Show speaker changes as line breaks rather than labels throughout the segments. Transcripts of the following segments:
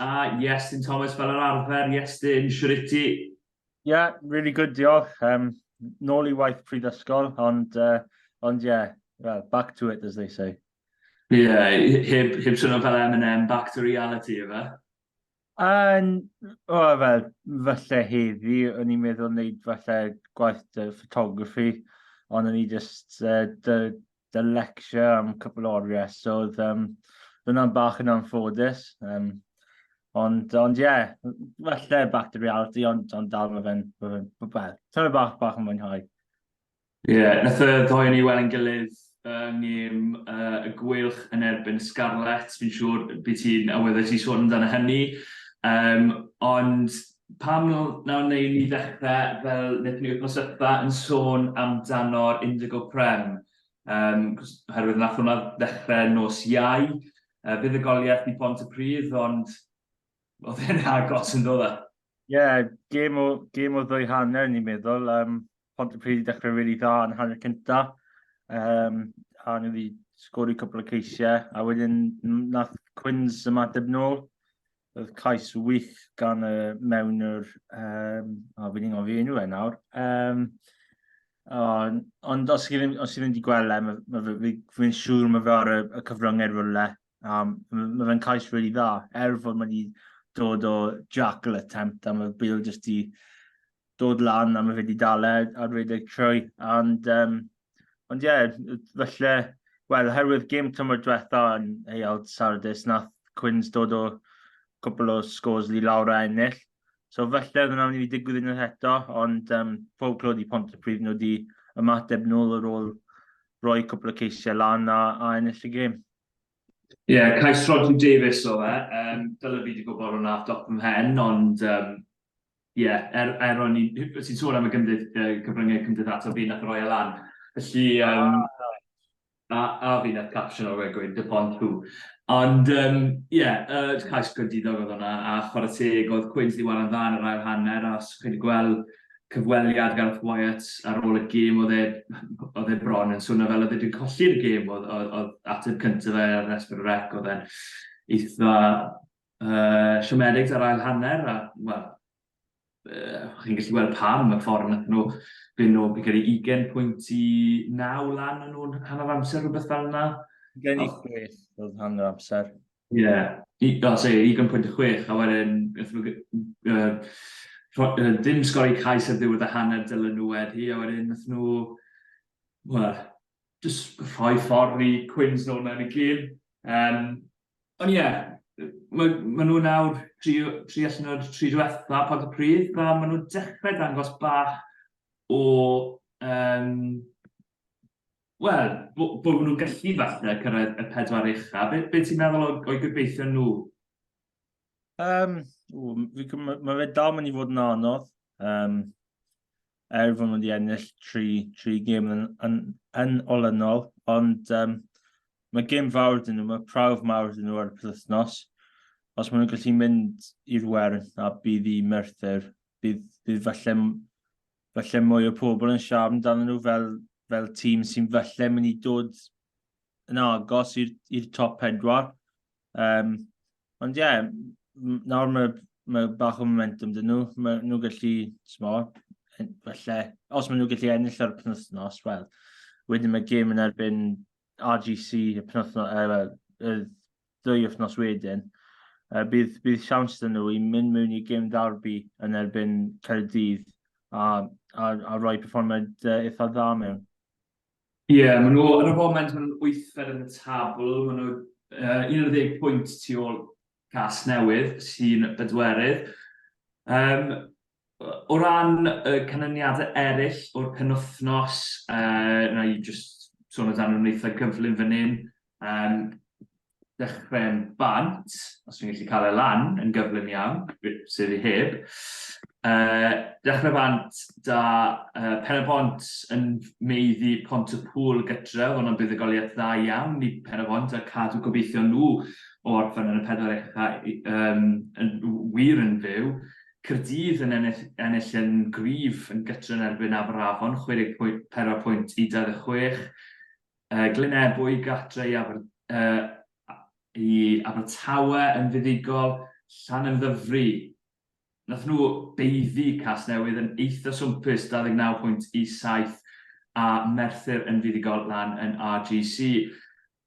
A, Iestyn Thomas, fel yr arfer, Iestyn, siwr i ti? Ie,
really good, diolch. Um, nôl i waith pryd ysgol, ond, uh, ond ie, yeah, well, back to it, as they say. Ie, yeah,
heb, heb swnio fel M&M, back to reality, efe? Yn, o,
oh, fel, falle heddi, o'n i'n meddwl wneud falle gwaith dy photography, ond o'n i just, uh, dy, dy lecture am cwpl o oriau, so oedd um, hwnna'n bach yn anffodus. Um, ond, ond ie, yeah, falle back to reality, ond, ond dal mae fe'n, mae fe'n, well, bach, bach, bach yn mwynhau. Ie, yeah,
nath y ddoi ni weld yn gilydd yng ngym uh, y gwylch yn erbyn Scarlett. Fi'n siŵr byd ti'n awyddus i sôn amdano hynny. Um, ond pam nawr wnewn ni ddechrau fel wnaethon ni wythnos yma yn sôn amdano'r Indigo Prem? Um, herwydd nath hwnna ddechrau nos iau, uh, bydd y goliath i Pont y Pryd, ond oedd e'n agos yn dod e? Ie, yeah, gêm
o, gêm o ddwy hanner ni'n meddwl. Um, Pont y Pryd i ddechrau rili really dda yn hanner cynta. Um, a nhw wedi sgori cwpl o ceisiau. A wedyn nath Cwins ymateb nôl. Roedd cais wych gan y mewnwr, um, o, fi'n ingol fi enw e nawr. Um, on, ond os chi ddim, os chi ddim wedi gweld e, mae, mae, mae, fi'n siŵr mae fe ar y, y cyfryngau rhywle. Um, mae, mae fe'n cais rili really dda, er fod mae wedi dod o Jackal Attempt, a mae Bill jyst i dod lan a mae fe wedi dal e ar redeg trwy. And, um, ond ie, yeah, felly, wel, herwydd gym tymor diwetha yn Heiald Sardis, nath Cwins dod o cwpl o scores i lawr a ennill. So felly, oedd yna'n mynd i digwydd unwaith eto, ond um, pob clod i pont y prif nhw wedi ymateb nôl yr ôl roi cwpl o ceisiau lan a, a ennill y gym. Ie, yeah,
cais Rodri Davies o fe. Um, Dyla fi wedi gwybod hwnna off dop ym mhen, ond um, Ie, yeah, er, er o'n i'n... Ti'n sôn am y gymdyd, uh, cyfryngau cymdeithasol fi nath roi e lan. Felly, um, ah, a, a fi nath caption o'r wegwyd, dy pont tu. Ond, ie, um, yeah, uh, cais gwydidog oedd hwnna, a chwarae teg, oedd Cwins di waran dda yn yr ail hanner, a chi wedi gweld cyfweliad Gareth Wyatt ar ôl y gêm, oedd e, oedd e bron yn swnio fel oedd e wedi colli'r gêm, oedd, oedd, oedd ateb cyntaf fe ar Esper Rec, oedd e'n eitha uh, siomedig ar ail hanner, a, wel, uh, chi'n gallu gweld pam y ffordd nath nhw byn nhw, fi'n credu 20 pwynt i 9 lan yn nhw'n hanner amser rhywbeth fel yna. Gen i chwech
oedd hanner amser. Ie, yeah.
i, o, se, 20 pwynt y chwech, a wedyn, uh, uh, dim sgori cais ar ddiwedd y hanner dylen nhw wedi, a wedyn, nath nhw, wel, just rhoi ffordd i Quins nôl mewn i gyd. Um, Ond ie, mae, mae nhw nawr tri, tri allan o'r tri diwetha pod y pryd, a maen nhw'n dechrau dangos bach o... Um, Wel, bod bo nhw'n gallu falle cyrraedd y pedwar ucha. Be, be ti'n meddwl o'i gobeithio nhw?
Um, mae fe dal mynd i fod yn anodd. Um, er fod nhw wedi ennill tri, tri gêm yn, yn, yn olynol, ond um, mae gêm fawr dyn nhw, mae prawf mawr dyn nhw ar y penwythnos. Os maen nhw'n gallu mynd i'r wern a bydd i Merthyr, bydd, bydd falle, falle mwy o pobl yn siarad amdano nhw fel, fel tîm sy'n falle mynd i dod yn agos i'r top pedwar. Um, ond ie, yeah, nawr mae, mae bach o momentum dyn nhw. Mae nhw gallu, smo, felly, os maen nhw gallu ennill ar y penwthnos, wel, wedyn mae gêm yn erbyn RGC y penwthnos, er, y ddwy wythnos wedyn. Uh, bydd, bydd siawns dyn nhw i mynd mewn i gêm darbi yn erbyn Caerdydd a, a, a roi performad uh, eitha dda mewn. Ie,
maen nhw ar y foment, maen nhw'n wythfed yn y tabl, maen nhw uh, 11 pwynt tu ôl cas newydd sy'n bedwerydd. Um, o ran y canlyniadau eraill o'r penwthnos, uh, na i just sôn o dan nhw'n eitha gyflym fan hyn. Um, dechrau'n bant, os fi'n gallu cael e lan yn gyflym iawn, sef i heb. Uh, dechrau bant da uh, Pen y Bont yn meiddi Pont y Pŵl gytref, ond o'n buddugoliaeth dda iawn i Pen y Bont a cadw gobeithio nhw o orffen yn y pedwar echa um, yn wir yn fyw. Cyrdydd yn ennill, ennill yn gryf yn gytref yn erbyn Aberafon, 64 pwynt i 26, Yy, Glyn Ebwy, Gartre i Aber, yy, i Abertawe yn fuddugol, Llanymddyfri. Nath nhw beiddi Casnewydd yn eitha swmpus 29.17 a Merthyr yn fuddugol lan yn RGC.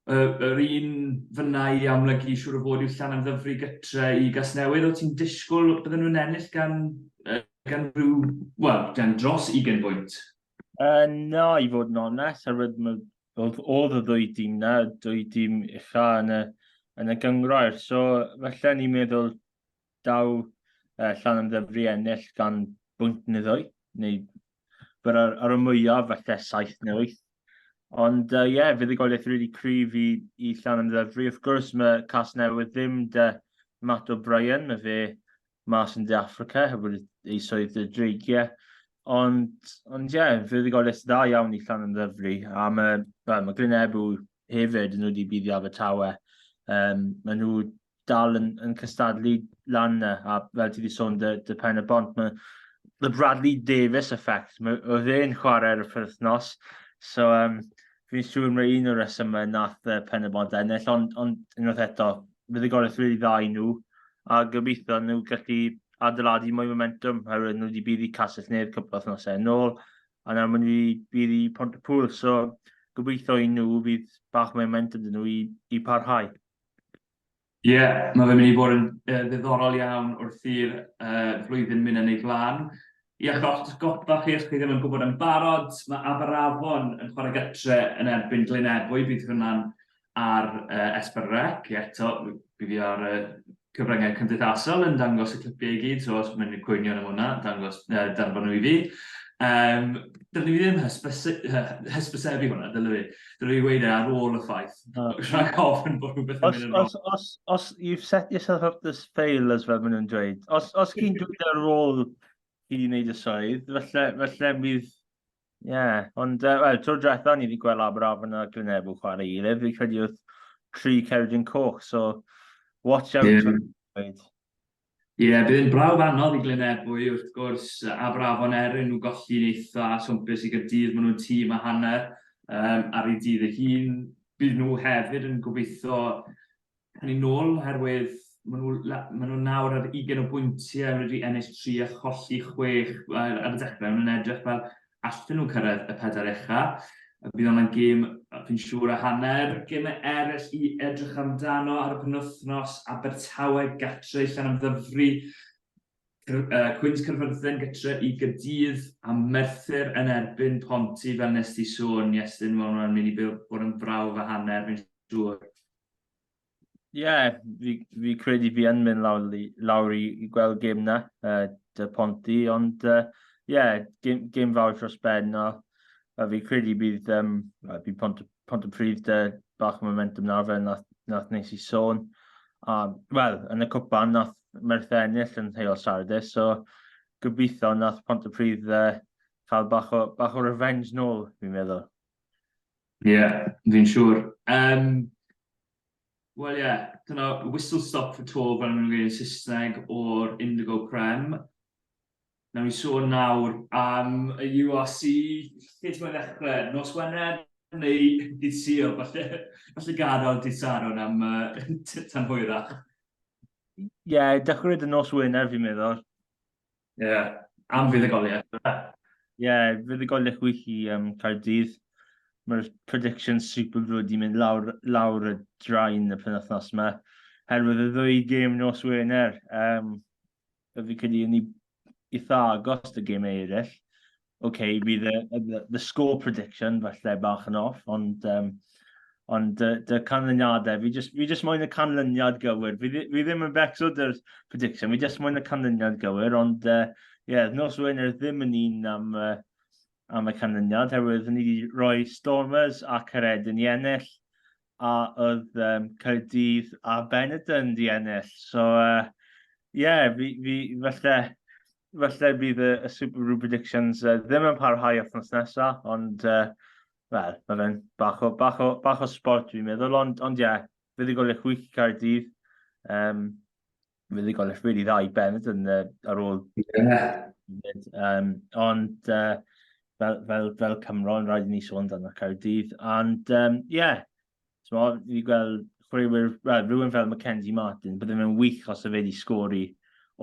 Yy, yr un fyna i amlygu siŵr o fod yw Llanymddyfri gytre i Gasnewydd. O ti'n disgwyl bydden nhw'n ennill gan, yy, gan rhyw, wel, gan dros 20 bwynt? Uh, na,
i fod yn onest, a rydym yn oedd, oedd y ddwy dîm na, dwy dîm ucha yn y, yn y gyngrair. So, felly ni'n meddwl daw uh, llan yn ddyfru ennill gan bwynt neu ddwy, neu byr ar, ar y mwyaf, felly saith neu wyth. Ond ie, uh, yeah, fydd y goliaeth rili really cryf i, i llan yn ddyfru. Wrth gwrs, mae Cas Newydd ddim de Matt O'Brien, mae fe mas yn De Affrica, heb wedi ei swydd y dreigiau. Ond, ond ie, yeah, fe wedi gael list dda iawn i Llan Ymddyfri, a mae, well, mae Glyn Ebw hefyd yn wedi bydd i Abertawe. Um, mae nhw dal yn, yn cystadlu lan na, a fel ti wedi sôn, dy, dy pen y bont, mae the Bradley Davis effect, mae, oedd e'n chwarae ar y perthnos, so um, fi'n siŵr mae un o'r resymau nath uh, pen y bont ennill, ond, ond unwaith eto, bydd y gorau rili dda i nhw, a gobeithio nhw gallu adeiladu mwy momentum, oherwydd nhw wedi bydd i Castell Nedd cwpl o thnosau yn ôl, a nawr maen nhw wedi bydd i Pont y Pŵl, so gobeithio i nhw fydd bach mwy momentum dyn nhw i, i parhau. Ie,
yeah, mae fe'n mynd i fod yn uh, ddiddorol iawn wrth i'r uh, flwyddyn mynd yn ei flaen. Iechyd o'ch atgoffa chi os chi ddim yn gwybod yn barod, mae Aberafon yn chwarae gytre yn erbyn Glynebwy, bydd hwnna'n ar Esbern Rec, eto bydd hi ar y cyfryngau cymdeithasol yn dangos y clipiau i gyd, so os mae'n cwynion am hwnna, dangos, uh, danfon nhw i fi. Um, dylwn i ddim hysbysebu hwnna, dylwn i. Dwi'n ei weid e ar ôl y ffaith. Rhaid ofyn bod rhywbeth yn mynd yn rong. Os, os, you've set
yourself up this fail, as fel maen nhw'n dweud. Os, os chi'n dweud ar ôl i wneud y swydd, felly, felly bydd... Ie, yeah. ond, uh, wel, tro diwetha ni wedi gweld Aberafon a Glynebw chwarae i gilydd, fi credu wrth tri Ceredigion Coch, so watch out. Yeah.
Ie, bydd yn brawf anodd i Glynebwy, wrth gwrs, a Brafon er yn nhw golli'n eitha swmpus i Gaerdydd, maen nhw'n tîm a hanner um, ar ei dydd ei hun. Bydd nhw hefyd yn gobeithio yn ei nôl, oherwydd maen nhw, maen nhw nawr ar 20 o bwyntiau wedi ennill 3 a cholli 6 ar y dechrau, maen nhw'n edrych fel allen nhw cyrraedd y pedair ucha'. Bydd hwnna'n gêm, fi'n siŵr, a hanner. Gemau eraill i edrych amdano ar y penwythnos, Abertawe gatre i Llanymddyfri, Cwins Caerfyrddin gytre i Gaerdydd, a Merthyr yn erbyn Ponty, fel nes ti sôn, Iestyn, mae hwnna'n mynd i bod yn brawf a hanner, fi'n siŵr. Ie, yeah,
fi, fi credu fi yn mynd lawr, lawr i, i gweld gym na, uh, dy Ponti, ond ie, uh, yeah, gym, gym fawr dros ben, a, a fi credu bydd, um, bydd pont, pont y pryd dy bach o momentum na fe, nath, nath nes i sôn. A, wel, yn y cwpan, nath Merthe ennill yn heol Saturday, so gobeithio nath pont y pryd uh, cael bach o, bach o revenge nôl, fi'n meddwl.
Ie, fi'n siŵr. Yym, wel ie, dyna whistle stop for tour fel maen nhw'n gweud yn Saesneg o'r Indigo Prem. Wnawn ni sôn nawr am y URC, lle ti'n moyn ddechrau? Nos Wener neu dydd Sul? Falle falle gadael dydd Sadwrn am yy tan hwyrach. Ie, dechrau
gyda nos Wener fi'n meddwl. Ie,
yeah. am fuddugoliaeth. Ie, yeah,
fuddugoliaeth wych i um, Caerdydd. Mae'r prediction super brwyd i mynd lawr, lawr y draen y penwthnos yma. Herwydd y ddwy gêm nos Wener, um, y fi credu yn eitha agos y gêm eraill. ok, bydd y, the, the score prediction falle bach yn off, ond, um, ond dy, dy canlyniadau, fi just, fi just moyn y canlyniad gywir. Fi, fi ddim yn becso dy'r prediction, fi just moyn y canlyniad gywir, ond uh, yeah, nos Wener ddim yn un am, uh, am y canlyniad, herwydd ni wedi rhoi Stormers a Caredyn i ennill, a oedd um, Caerdydd a Benetton di ennill. So, uh, yeah, fi, fi, falle, falle bydd y, y Super Rugby Predictions uh, ddim yn parhau othnos nesaf, ond uh, Wel, mae fe'n bach o, bach o, bach o sport dwi'n meddwl, ond, ond ie, yeah, fe ddigol eich wiki cael dydd. Um, fe ddigol eich wedi ddau benod yn, uh, ar ôl. Yeah. Um, ond uh, fel, fel, fel Cymro, yn rhaid i ni sôn dan y cael dydd. Ond ie, um, yeah, So, fi wedi gweld chwaraewyr, well, rhywun fel Mackenzie Martin, byddai fe'n wych os y fe wedi sgori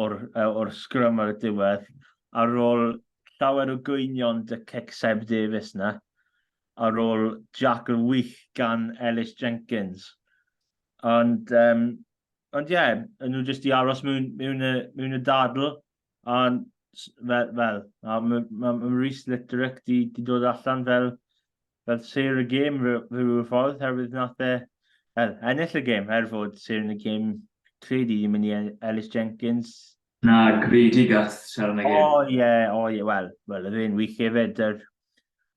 o'r, or sgrym ar y diwedd, ar ôl llawer o gwynion dy cic Seb Davies na, ar ôl Jack yr wych gan Ellis Jenkins. Ond, um, ond ie, yeah, nhw jyst i aros mewn, mewn, y, mewn y dadl, Ond, fel, fel mae ma, ma, ma Rhys Litterick di, di dod allan fel, fel sir y gêm rhyw ffordd, herwydd nath e er, ennill y gêm, er fod sir yn y gêm credu ddim yn i Ellis Jenkins. Na, gredu
gath sir yn y gêm. O ie, o ie, wel,
wel, yr un wych hefyd, dy'r,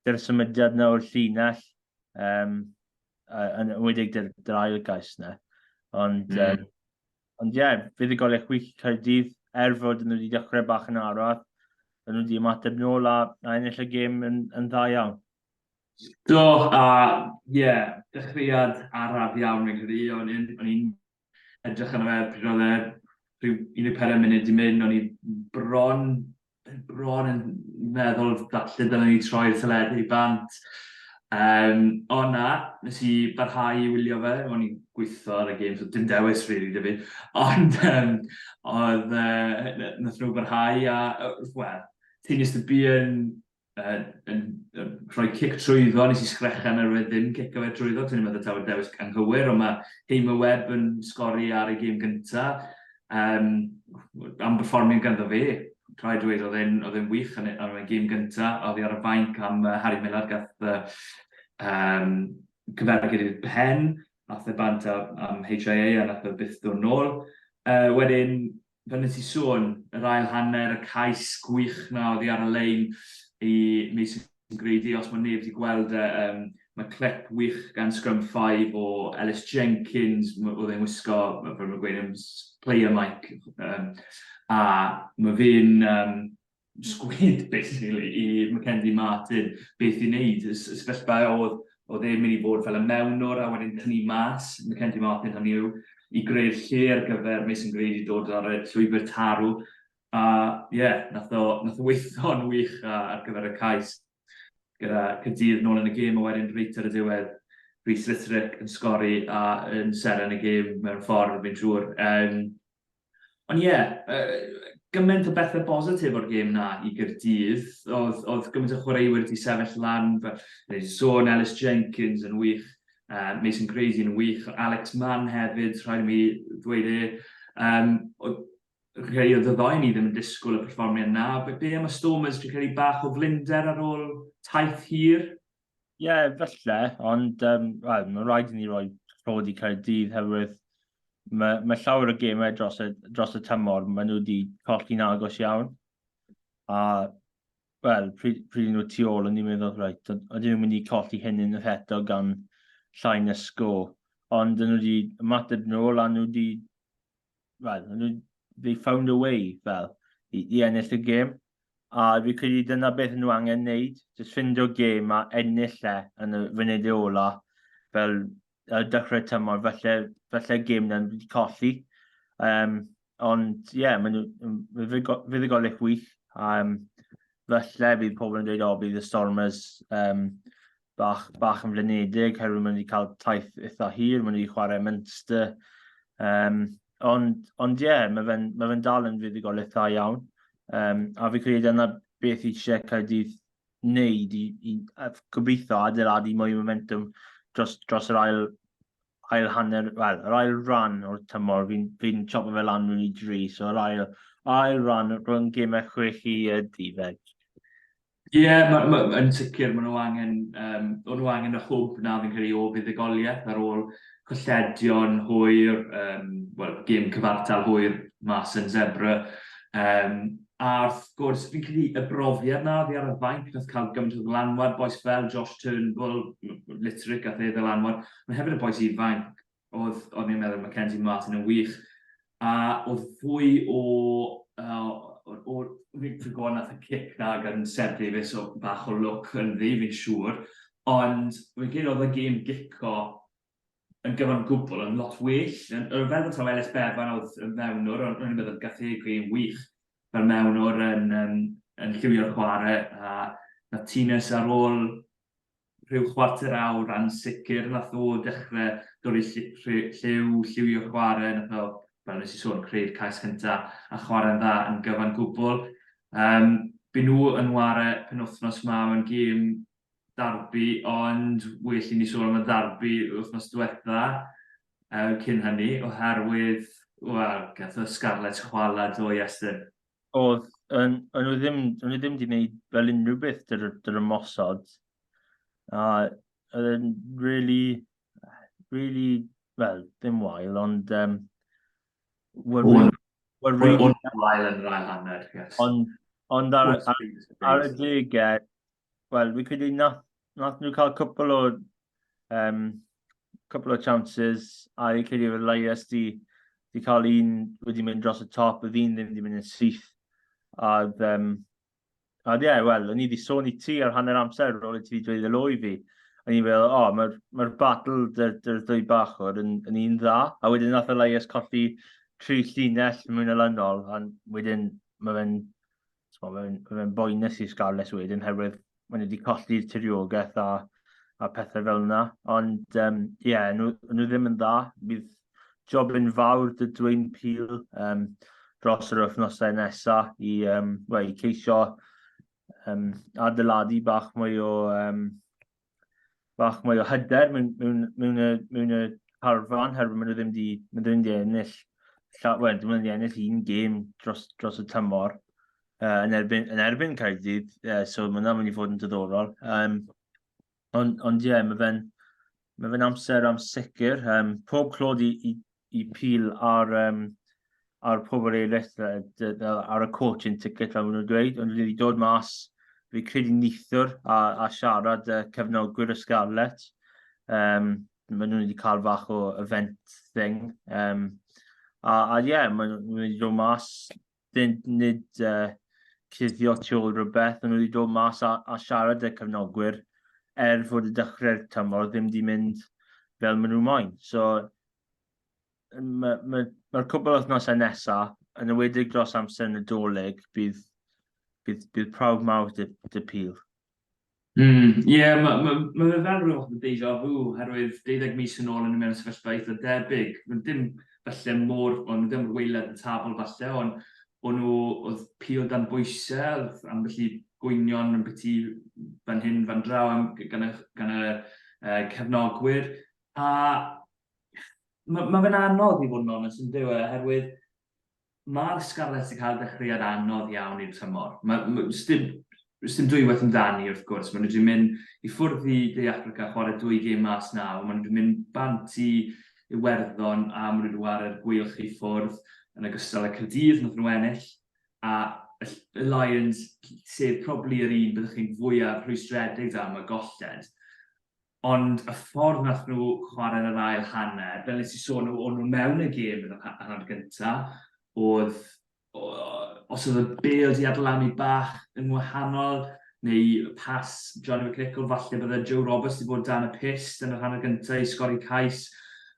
dy'r symudiad na o'r llinell, um, yn wedig dy'r, dy'r ail gais na. Ond, mm. um, Ond ie, yeah, fuddugoliaeth wych i Caerdydd, er fod nhw wedi dechrau bach yn arall, maen nhw wedi ymateb nôl a, a ennill y gêm yn, yn dda iawn. Do,
a ie, yeah, dechreuad araf iawn yn Cymru, o'n i'n edrych yn fe pryd oedd e rhyw 14 munud i mynd, o'n i bron bron yn meddwl falle dylen ni troi'r teledu i bant. Um, o na, nes i barhau i wylio fe, o'n i'n gweithio ar y gêm, so dim dewis rili really, fi. Ond um, oedd, uh, nath nhw barhau a, wel, ti'n just y bu yn uh, yn, uh, rhoi cic trwyddo, nes i sgrechen ar wedi ddim cic o fe trwyddo, ti'n meddwl tawer dewis anghywir, ond mae Heim y Web yn sgori ar y gym gyntaf. Um, am performing ganddo fi, rhaid dweud oedd e'n oedd e'n wych yn y gym gyntaf, oedd hi ar y fainc am uh, Harry Miller gath uh, um, cyfergyd i'r pen, nath e bant am HIA a nath e byth dod nôl. Uh, wedyn, fel nes i sôn, yr ail hanner, y cais gwych na oedd hi ar y lein i Mason Grady, os mae neb wedi gweld e, um, mae clip wych gan Scrum 5 o Ellis Jenkins, oedd e'n wisgo, fel mae'n gweud, player mic, um, a mae fe'n um, sgwyd basically i Mackenzie Martin beth i wneud. Y sefyllfa oedd oedd e'n mynd i fod fel y mewnwr a wedyn tynnu mas Mackenzie Martin hynny yw i greu'r lle ar gyfer Mason Grady dod ar y llwybr tarw. A ie, yeah, nath o, nath o weithio'n wych ar gyfer y cais gyda Cydydd nôl yn y gêm a wedyn reit ar y diwedd Rhys Litterick yn sgori a yn seren y gêm mewn ffordd fi'n siŵr. Um, Ond ie, yeah, uh, gymaint o bethau bositif o'r gêm na i Gyrdydd. Oedd, oedd gymaint o chwaraewyr wedi sefyll lan, fel sôn Ellis Jenkins yn wych, uh, Mason Crazy yn wych, Alex Mann hefyd, rhaid i mi ddweud e. Um, rhai o ddyddoen ni ddim yn disgwyl y perfformiad na. Be am y Stormers, dwi'n credu bach o flinder ar ôl taith hir? Ie, yeah, felly,
ond um, well, mae'n rhaid i ni roi rhod i Caerdydd herwydd mae, mae llawer o gemau dros y, dros y tymor, maen nhw wedi colli'n agos iawn. A, wel, pryd, pryd nhw tu ôl, o'n i'n meddwl, rhaid, o'n i'n mynd i colli hyn yn yr eto gan llai na sgo. Ond nhw wedi ymateb nôl a nhw wedi well, nhw, they found a way, fel, i, i ennill y gêm. A fi credu dyna beth nhw angen wneud, jyst ffindio gêm a ennill e yn y funud ola, fel y dechrau tymor, felly, felly gêm na'n wedi colli. Um, ond, ie, yeah, maen nhw, fuddugoliaeth wych. Um, felly, bydd pobl yn dweud, o, bydd y Stormers um, bach, bach yn flinedig, herwydd maen wedi cael taith eitha hir, maen wedi chwarae Munster. Um, ond, ond ie, yeah, mae fe'n ma fe dal yn fuddugol eitha iawn. Um, a fi credu yna beth i eisiau Caerdydd wneud i, i gobeithio adeiladu mwy o momentum dros, dros yr ail, ail hanner, wel, yr ail ran o'r tymor, fi'n fi, n, chopo fe lan rwy'n i dri, so yr ail, ail ran rhwng gemau chwech i y difeg. Ie, yeah, ma,
ma, yn sicr, maen nhw angen, um, o'n nhw angen y hwb na fi'n credu o fuddugoliaeth ar ôl colledion hwyr, um, well, gym cyfartal hwyr mas yn Zebra. Um, a wrth gwrs, fi'n credu y brofiad na fi ar y fainc nath cael gymaint o ddlanwad, boes fel Josh Turnbull, Litric a fe ddylanwad, mae hefyd y boes ifanc, oedd, o'n i'n meddwl Mackenzie Martin yn wych, a oedd fwy o, uh, o, o Victor Gwan nath y cic na gan Seb Davies o bach o look yn ddi, fi'n siŵr, ond fi'n credu oedd y gêm gico yn gyfan gwbl yn lot well, yn, fel bod taw Ellis Bevan oedd yn mewnwr, ond rwy'n meddwl gath ei gwyn wych fel mewnwr yn, yn, yn lliwio'r chwarae, a na Tines ar ôl rhyw chwarter awr yn sicr nath o dechre dorri lliw, lliwio chware, nath o, fel nes i sôn, creu'r cais cynta a chware'n dda yn gyfan gwbl. Yym by' nhw yn ware penwthnos ma mewn gêm darbi ond well i ni sôn am y ddarbi wythnos dwetha yy cyn hynny oherwydd wel gath y Scarlets chwala do Iestyn? Oedd,
o'n nhw ddim, o'n nhw ddim wedi gwneud fel unrhyw beth dy'r, dy'r ymosod. A oedd e'n really, really, wel, ddim wael, ond... Um,
well, well, well, really, wael yn rhaid anner, yes. Ond, ond ar,
ar, ar y degau, wel, fi'n credu nath, nath nhw cael cwpl o, um, cwpl o chances, a fi'n credu fod Elias di, di cael un wedi mynd dros y top, oedd un ddim wedi mynd yn syth. A, um, a ie, yeah, wel, o'n i wedi sôn i ti ar hanner amser ar ôl i ti wedi dweud y loi fi. O'n i'n meddwl, o, oh, mae'r ma battle dy'r dy, dy ddwy bach o'r yn, yn un dda. A wedyn nath Elias colli tri llinell mwy na lynol, a wedyn mae fe'n Mae'n fe boenus i Scarlets wedyn, herwydd maen nhw wedi colli'r tiriogaeth a, a pethau fel yna. Ond, ie, um, yeah, nhw, nhw ddim yn dda. Bydd job yn fawr dy dweyn pil um, dros yr wythnosau nesaf i, um, well, i ceisio um, adeiladu bach mwy o um, bach mwy o hyder mewn, mewn, mewn, y, mewn y harfan, herwydd maen nhw ddim wedi mynd yn ennill, llawer, well, ddim wedi ennill un gêm dros, dros y tymor uh, yn erbyn, yn erbyn Caerdydd, uh, so mae hwnna'n mynd i fod yn diddorol. Um, ond, ond ie, yeah, mae fe'n mae fe'n amser am sicr. Um, pob clod i, i, i pil ar, um, ar pobl eraill, ar y court yn ticket fel maen nhw'n dweud, ond wedi dod mas, fi credu nithwr a, a siarad y cefnogwyr y Scarlet. Um, maen nhw wedi cael fach o event thing. Um, a, a ie, yeah, maen nhw wedi dod mas fynd nid uh, cuddio tu ôl rhywbeth, ond wedi dod mas a, a siarad y cyfnogwyr er fod y dechrau'r tymor ddim wedi mynd fel maen nhw moyn. So, mae'r ma, ma cwbl wythnosau nesaf, yn y wedig dros amser yn y doleg, bydd, bydd, bydd prawf mawr dy, dy pil. Mm,
ie, mae ma', ma' fe fel ryw fath o deja vu, oherwydd deuddeg mis yn ôl o'n i mewn sefyllfa eitha debyg. Wel, dim falle mor, wel, nhw ddim waelod y tabl falle, ond o'n nhw, oedd pil dan bwyse, oedd ambell i gwynion ambiti fan hyn, fan draw am, gan y, gan y uh, cefnogwyr. A mae ma fe'n anodd i fod yn onest yn dyw e, oherwydd Mae'r Scarlets 'di cael dechreuad anodd iawn i'r tymor. Mae, mae, sdim, sdim dwywaith amdani wrth gwrs, maen nhw wedi mynd i ffwrdd i De Affrica, chwarae dwy gêm mas naw, maen nhw wedi mynd bant i Iwerddon a maen nhw wedi ware'r Gweilch i ffwrdd yn ogystal â Caerdydd nath nhw ennill, a y Lions, sef probably yr un byddwch chi'n fwyaf rhwystredig am y golled. Ond y ffordd wnaethon nhw chwarae yn yr ail hanner, fel wnes i sôn, o- o'n nhw mewn y gêm yn yr ha- hanner gynta, oedd, o- os oedd y bêl 'di adlanu bach yn wahanol, neu y pas Johnny McNicholl, falle bydde Joe Roberts 'di bod dan y pyst yn yr hanner gynta i sgori cais.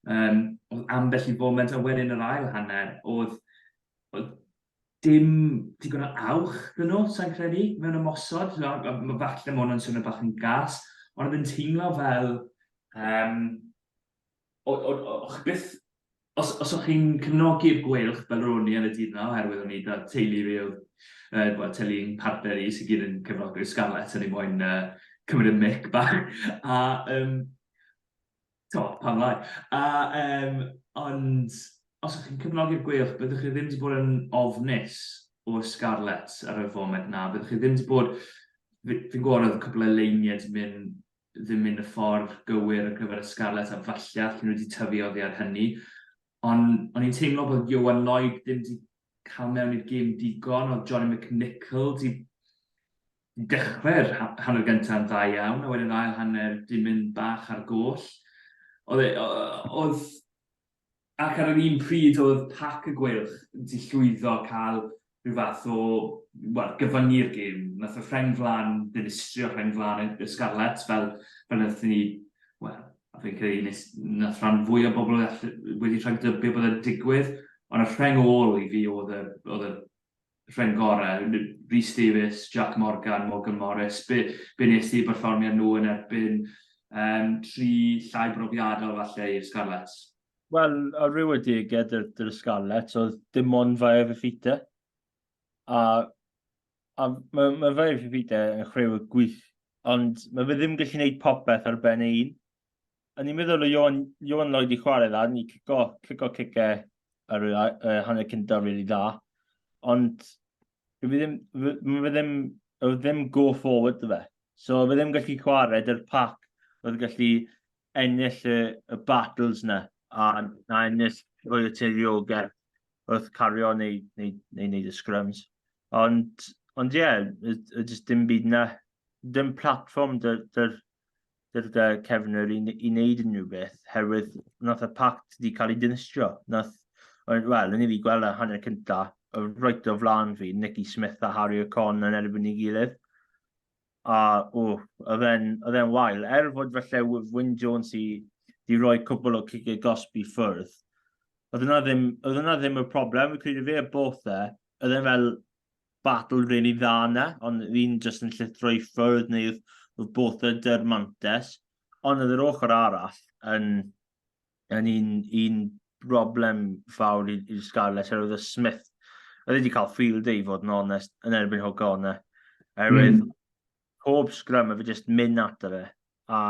Yym, oedd ambell i foment, a wedyn yr ail hanner, oedd, oedd dim digon o awch dyn nhw, sa'n credu, mewn ymosod. Mae falle ma' hwnna'n swnio bach yn gas, ond oedd yn teimlo fel, um, o, o, o, o chi byth os, os o'ch chi'n cefnogi'r gweilch fel ro'n i yn y dydd yna, oherwydd o'n i da teulu fi oedd, uh, well, teulu yn partner i sy'n gyd yn cefnogi'r Scarlets, o'n i moyn uh, cymryd y mic bach. A um, to, pam lai. A, um, ond, os ydych chi'n cyfnogi'r gweilch, byddwch chi ddim wedi bod yn ofnus o'r Scarlets ar y foment na. Byddwch chi ddim wedi bod... Fi'n fi gwybod oedd cwbl o leiniau di mynd, ddim mynd y ffordd gywir ar gyfer y Scarlets a falle allan nhw wedi tyfu oddi ar hynny. Ond o'n i'n teimlo bod Johan Lloyd ddim wedi cael mewn i'r gêm digon, oedd Johnny McNichol wedi Dechrau'r hanner gyntaf yn dda iawn, a wedyn yr ail hanner di mynd bach ar goll. Oedd e, oedd... Ac ar yr un pryd oedd Pac y Gweilch di llwyddo cael rhyw fath o, wel, gyfyngu'r gêm. Nath y rheng flan ddinistrio rheng flan y Scarlets fel, fel nath ni, wel, a fi'n credu nes, nath rhan fwy o bobl wedi rhag dybio bod e'n digwydd, ond y rheng ôl i fi oedd y, oedd y rheng gorau, Rhys Davies, Jac Morgan, Morgan Morris, be, be nes ti berfformiad nhw yn erbyn um, tri llai brofiadol falle i'r Scarlets? Wel, a
rhyw y deged yr, yr Scarlets oedd dim ond fae fe ffita. A, a mae, mae fae fe ffita yn chrew y gwych, ond mae fe ddim gallu gwneud popeth ar ben ei un. O'n i'n meddwl o Ion, Ion Lloyd i chwarae dda, ni cico, cico cice ar y uh, hanner cyntaf rili really dda. Ond fi ddim, fi ddim, fi ddim go forward dy fe. So fi ddim gallu chwarae dy'r pac oedd gallu ennill y, y battles na, a na ennill o'r teiriogau wrth cario neu, neu, neu, neu y scrums. Ond, ond ie, yeah, y, y, dim byd na, dim platform dy'r, dy'r, gyda Cefnwyr i, i wneud unrhyw beth, herwydd wnaeth y pact wedi cael ei dinistrio. Nath, wel, yn i fi gweld y hanner cynta, y roed o flan fi, Nicky Smith a Harry O'Con yn erbyn ei gilydd. A, o, oedd e'n wael. Er fod felly Wyn Jones i di roi cwbl o cigau gosbi ffwrdd, oedd yna ddim, oedd yna ddim y problem, fi'n credu fe y both e, oedd e'n fel, battle really dda yna, ond fi'n just yn llithro i ffwrdd neu wrth both y dyr mantes. Ond oedd yr ochr arall yn, yn un, un broblem fawr i'r Scarlets, er oedd y Smith, oedd wedi cael field ei fod yn onest, yn erbyn hoga hwnna. Erwydd, mm. pob sgrym, a fi just mynd ato fe. A,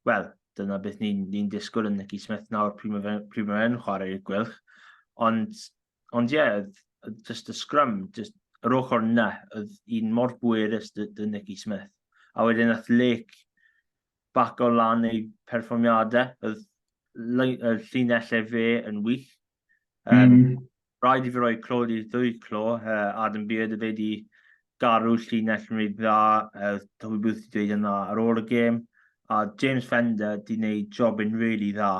wel, dyna beth ni'n ni, disgwyl yn Nicky Smith nawr pryd mae fe'n chwarae i'r gwylch. Ond ond ie, yeah, just y scrum, just yr ochr na, oedd un mor bwerus dy, dy Nicky Smith. A wedyn nath Lake bac o lan ei perfformiadau, oedd y llinellau fe yn wych. Um, mm. Rhaid i fi roi clod i ddwy clo, uh, Adam Beard y fe di Garw llinell yn reit dda, oedd Toby Booth wedi dweud yna ar ôl y gêm, a James Fender wedi gwneud job yn rili really dda.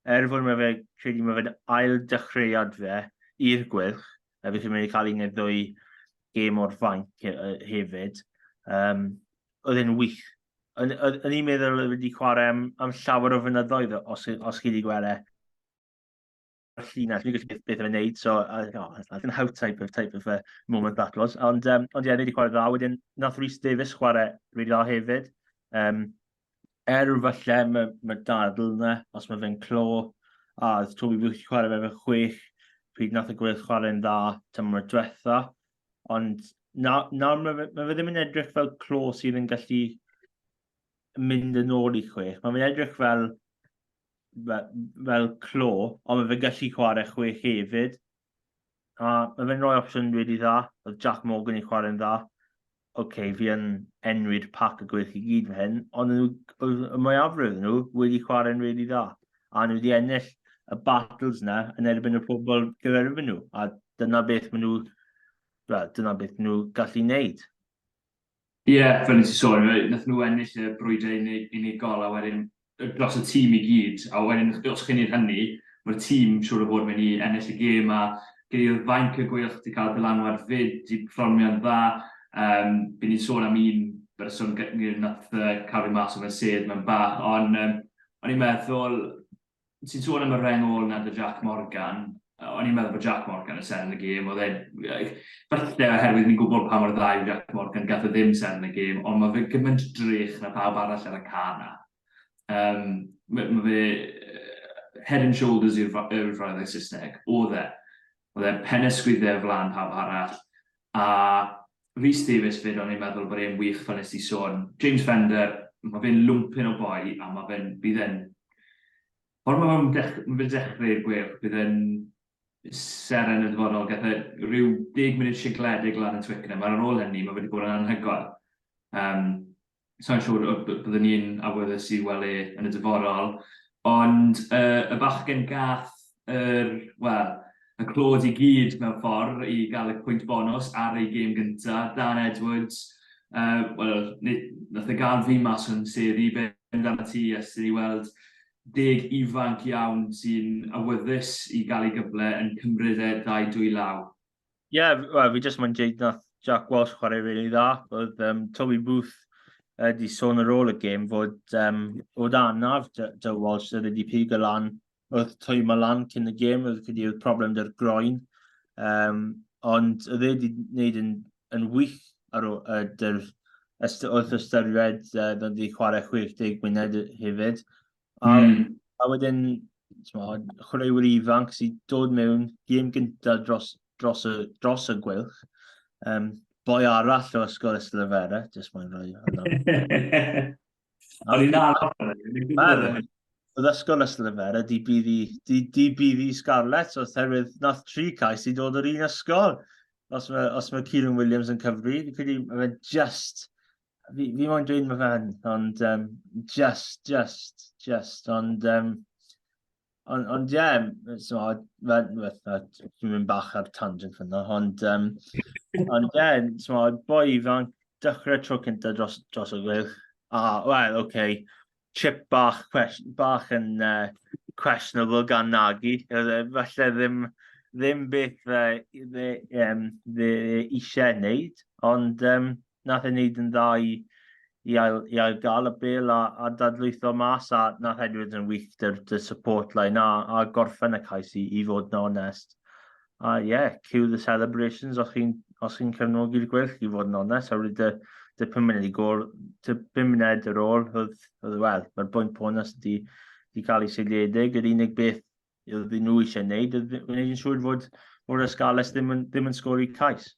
Er fod mae fe, credu mae fe'n ail dechreuad fe i'r gwyrch, a felly mae'n cael un neu ddwy gêm o'r fainc hefyd. Um, oedd e'n wych. O'n i'n meddwl oedd wedi chwarae am, am llawer o fynyddoedd os, os chi wedi gweld e. llinell, fi'n gwybod beth, beth yw'n neud, so, uh, oh, that's like an how type of, type of uh, moment that was. Ond, um, ond ie, yeah, ni wedi chwarae dda, wedyn, nath Rhys Davies chwarae rili dda hefyd. Um, er falle mae ma dadl yna, os mae fe'n clo, a oedd Toby Booth wedi chwarae fe fe chwech, pryd nath y gweith chwarae'n dda tymor diwetha, ond na, na mae fe, ma fe ddim yn edrych fel clo sydd yn gallu mynd yn ôl i chwech. Mae fe'n edrych fel fel clo, ond mae fe'n gallu chwarae chwech hefyd. A mae fe'n rhoi opsiwn wedi dda, oedd Jack Morgan yn chwarae'n dda. Oce, okay, fi yn enwyd pac y gwych i gyd fe hyn, ond y mwyafrif nhw wedi chwarae'n wedi dda. A nhw wedi ennill y battles yna yn erbyn y pobl gyferfyn nhw. A dyna beth maen nhw, well, dyna beth nhw gallu wneud.
Ie, fel nes i sôn, wnaethon nhw ennill y brwydr unig, unigol, a wedyn dros y tîm i gyd, a wedyn os chi'n neud hynny, ma'r tîm siŵr o fod myn' i ennill y gêm, a gei di weld fainc y Gweilch di ca'l dylanwad 'fyd, di perfformio'n dda, yym by' ni'n sôn am un berson gy- ni nath yy ca'l fi mas o fy sedd mewn bach, on' yym o'n i'n meddwl ti'n sôn am y reng ôl na dy Jac Morgan, o'n i'n meddwl bod Jac Morgan yn seren y gêm, oedd e, falle oherwydd ni'n gwybod pa mor dda yw Jac Morgan, gath o e ddim seren y gêm, ond mae fe gymaint drych na pawb arall ar y ca na. Um, mae fe head and shoulders yw'r frawddau Saesneg, oedd e. Oedd e'n pennes sgwydde o flan pawb arall. A Rhys Davies 'fyd, o'n i'n meddwl bod e'n wych fel nes ti sôn. James Fender, ma' fe'n lwmpyn o boi a ma' fe'n, bydd e'n, pan ma' fe'n dech- ma' fe'n dechre i'r Gweilch, bydd e'n seren yn y dyfodol. Gath e ryw deg munud sigledig lan yn Twickenham, a'r ar ôl hynny ma' fe 'di bod yn anhygoel. Yym. sa i'n siŵr y by- byddwn i'n awyddus i weld e yn y dyfodol, ond y, y bachgen gath yr, wel, y clod i gyd mewn ffordd i gael y pwynt bonws ar ei gêm gynta, Dan Edwards, uh, wel, nath e gael fi mas o'n sedd i ben dan y tu, ys i weld deg ifanc iawn sy'n awyddus i gael ei gyfle yn cymryd e ddau dwy law. Ie, yeah, well,
fi jyst mae'n dweud nath Jack Walsh chwarae rili really dda. Oedd um, Toby Booth wedi uh, sôn ar ôl y gêm fod, um, fod anaf Joe Walsh oedd wedi pig y lan oedd twy ma lan cyn y gêm, oedd wedi oedd problem dy'r groen. Um, ond oedd e wedi gwneud yn, yn wych ar ôl uh, dy'r wrth ystyried uh, oedd wedi chwarae 60 myned hefyd. A, mm. a wedyn, chwaraewyr ifanc sy'n dod mewn gêm gyntaf dros, dros, y, dros y gwylch. Um, boi arall o ysgol Ystlefera, jyst mae'n rhoi hwnna. O'n i'n arall. Oedd ysgol Ystlefera, di bydd i, di, di bydd i Scarlett, oedd herwydd nath tri cais i dod o'r un ysgol. Os mae, os mae Kieran Williams yn cyfri, fi'n credu mae'n just fi, fi moyn dweud mae fan, ond um, just, just, just, ond... Um, ond, ond ie, yeah, so, fe, fe, dwi'n mynd bach ar tangent fyna, ond, um, ond ie, yeah, so, boi fan, dechrau tro cyntaf dros, dros y gwych, a, wel, oce, okay, chip bach, bach yn uh, questionable gan Nagy. E, falle ddim, ddim beth fe, fe, um, fe eisiau wneud, ond um, nath ei wneud yn dda i, i, ail, i ail gael y bel a, a dadlwytho mas a nath Edwards yn wych dy'r dy support line a, a gorffen y cais i, i fod yn onest. A uh, yeah, cue the celebrations os chi'n os chi'n cefnogi'r gwell i fod yn onest, a wedi dy, dy pum munud i gol, dy pum munud ar ôl, oedd, oedd wel, mae'r bwynt bonus wedi, wedi cael ei seiliedig, yr unig beth oedd nhw eisiau gwneud, oedd gwneud yn siŵr fod o'r ysgales ddim yn, ddim yn sgori cais.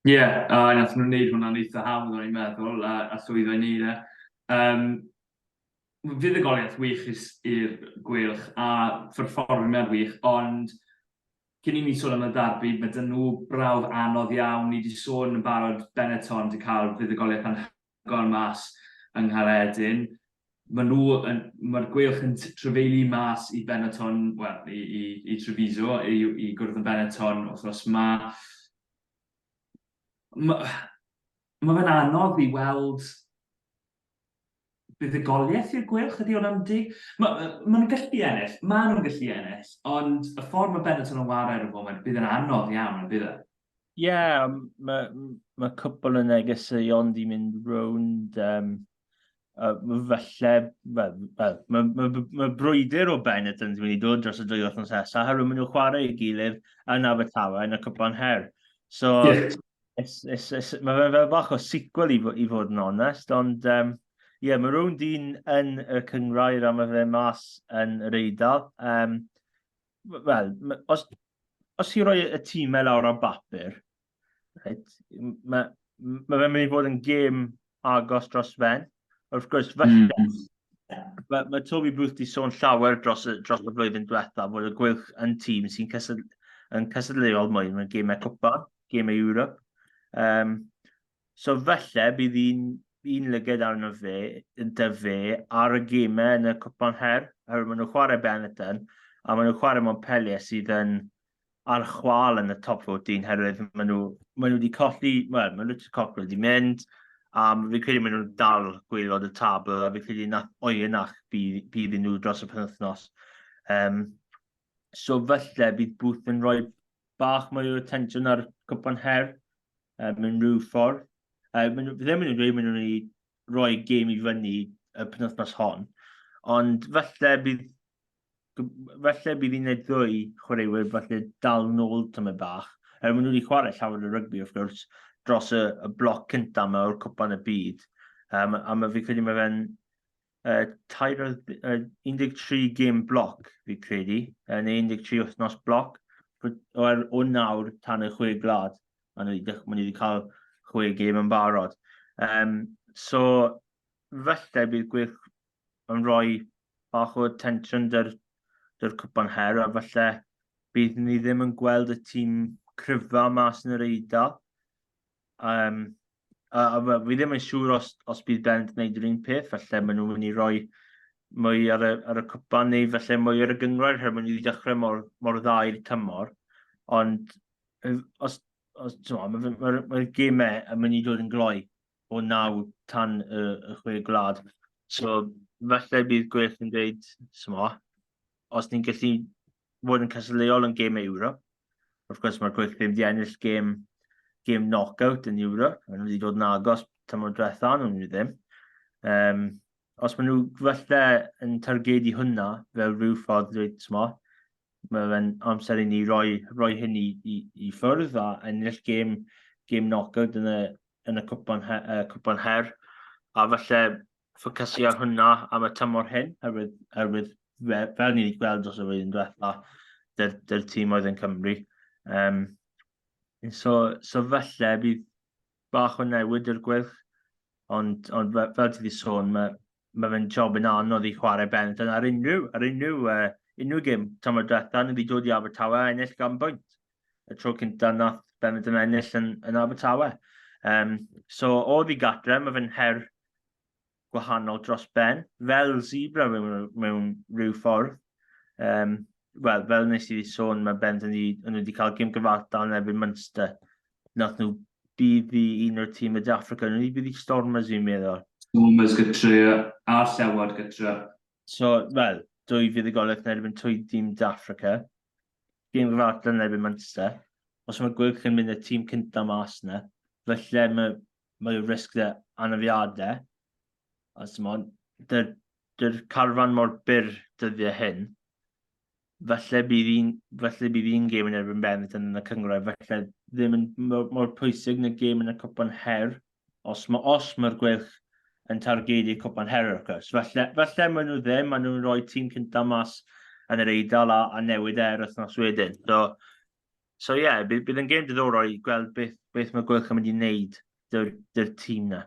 Ie, yeah, uh, nath nhw'n neud hwnna'n
eitha hawdd o'n i'n meddwl, a, a llwyddo i neud e. Um, fuddugoliaeth wych is i'r Gweilch a pherfformiad wych, ond cyn i ni sôn am y darbi, mae 'da nhw brawf anodd iawn. Ni wedi sôn yn barod, Benetton 'di cael fuddugoliaeth anhygoel mas yng Nghaeredin. Mae nhw yn... Mae'r Gweilch yn trafeilu mas i Benetton, wel, i, i, i Treviso, i, i gwrdd yn Benetton wythnos yma. Mae, mae fe'n anodd i weld Buddugoliaeth i'r Gweilch ydy hwn yndi? Ma- yy ma' nhw'n gallu ennill, ma' nhw'n gallu ennill, ond y ffordd ma' Benetton yn ware ar y foment, bydd yn anodd iawn yn bydd e? Ie, ma' m-
ma' cwpwl o negeseuon 'di mynd rownd yym yy falle wel wel ma' ma' b- ma' brwydr o Benetton's myn' i dod dros y dwy wythnos nesa oherwydd ma' nhw'n chware ei gilydd yn Abertawe yn y Cwpan Her. So Ie. It's, it's, it's, mae fe'n fel bach o sequel i, i fod yn onest, ond ie, um, yeah, mae rhywun dyn yn y cyngrair a mae fe mas yn yr eidl. Um, Wel, os, os i roi y tîmau lawr ar bapur, right, mae ma fe'n mynd i fod yn gêm agos dros ben. Wrth gwrs, falle, mm. mae, mae Toby Booth wedi sôn llawer dros, dros y flwyddyn diwetha fod y gwylch yn tîm sy'n cysyd, yn cysylltuol mwy mewn gemau cwpa, gemau Europe. Um, so falle bydd un, un lyged arno fe, dy fe, ar y gemau yn y cwpan her, oherwydd maen nhw'n chwarae Benetton, a maen nhw'n chwarae mewn peliau sydd yn ar chwal yn y top 14 herwydd maen nhw, maen nhw wedi colli, wel, maen nhw wedi colli wedi mynd, a fi'n credu maen nhw'n dal gweilod y tabl, a fi'n credu na oenach bydd, bydd nhw dros y penwthnos. Um, so felly bydd Booth yn rhoi bach mwy o attention ar cwpan her um, mewn rhyw ffordd. Uh, maen nhw, ddim yn dweud maen nhw'n ei roi gêm i fyny y penwthnos hon, ond felly bydd falle bydd un neu ddwy chwaraewyr falle dal nôl tymor bach, er maen nhw wedi chwarae llawer o rygbi, wrth gwrs, dros y, y bloc cyntaf yma o'r cwpan y byd. Um, a mae fi credu mae fe'n uh, tair, uh, 13 gym bloc, fi credu, uh, neu 13 wythnos bloc, o'r o nawr tan y chwe glad. Maen nhw wedi cael chwe gêm yn barod. Um, so, felly bydd gwych yn rhoi bach o tensiwn dy'r, dy'r cwpan her, a falle bydd ni ddim yn gweld y tîm cryfa mas yn yr eiddo. Um, a, a, a fi ddim yn siŵr os, os bydd Bennett yn gwneud yr un peth, falle maen nhw'n mynd i roi mwy ar y, ar y cwpan neu felly mwy ar y gyngrair her mwyn i ddechrau mor, mor dda i'r tymor. Ond os, os mae'r ma, ma, ma gemau yn mynd i dod yn gloi o naw tan y, y chwe gwlad. So, falle bydd Gwyrth yn dweud, smo, os ni'n gallu fod yn cystadleuol yn gêm Ewrop, wrth gwrs mae'r Gwyrth ddim wedi ennill gêm, gêm knockout yn Ewrop, maen nhw wedi dod yn agos tymor diwetha, nhw nhw ddim. Um, os maen nhw falle yn targedu hwnna fel rhyw ffordd dweud, smo, mae fe'n amser i ni roi, roi hyn i, i, i ffwrdd a ennill gêm, gêm knockout yn y, yn y cwpan, her, uh, cwpan her, a falle ffocysu ar hwnna am y tymor hyn, herwydd, herwydd fel, fel ni wedi gweld os y flwyddyn diwetha, dy'r, dyr tîm oedd yn Cymru. Um, so, so falle bydd bach o newid i'r gwyrch, ond, ond fel, fel ti wedi sôn, mae mae fe'n job yn anodd i chwarae Benetton ar unrhyw, ar unrhyw, uh, unrhyw gym tymor diwetha, nhw wedi dod i Abertawe a ennill gan bwynt. y tro cyntaf nath Benetton ennill yn, yn Abertawe. Um, so, o ddi gatre, mae fe'n her gwahanol dros ben, fel zebra mewn, mewn rhyw ffordd. Um, Wel, fel nes i sôn, mae Benetton wedi cael gym gyfartal yn erbyn Munster. Nath nhw bydd i un o'r tîm y De Africa, nhw wedi bydd i Stormers i'n meddwl. Stormers gytre,
a llewod gytre. So,
wel, dwy fydd y golwg yn erbyn twy dîm De Africa. gêm gyfan at yn erbyn Munster. Os mae Gwylch yn mynd y tîm cyntaf mas yna, felly mae, mae y risg dda anafiadau. A Simon, dy'r dy carfan mor byr dyddiau hyn, felly bydd un, felly bydd un gêm yn erbyn Benetton yn y cyngrau, felly ddim yn mor, mor pwysig na gêm yn y cwpan her, Os mae os mae'r Gweilch yn targedu Cwpan Her wrth gwrs. Falle, falle maen nhw ddim, maen nhw'n rhoi tîm cyntaf mas yn yr Eidal a, a newid e yr wythnos wedyn. So, so ie, yeah, bydd, bydd yn gêm diddorol i gweld beth, beth mae Gweilch yn mynd i wneud dy'r, dy'r tîm na.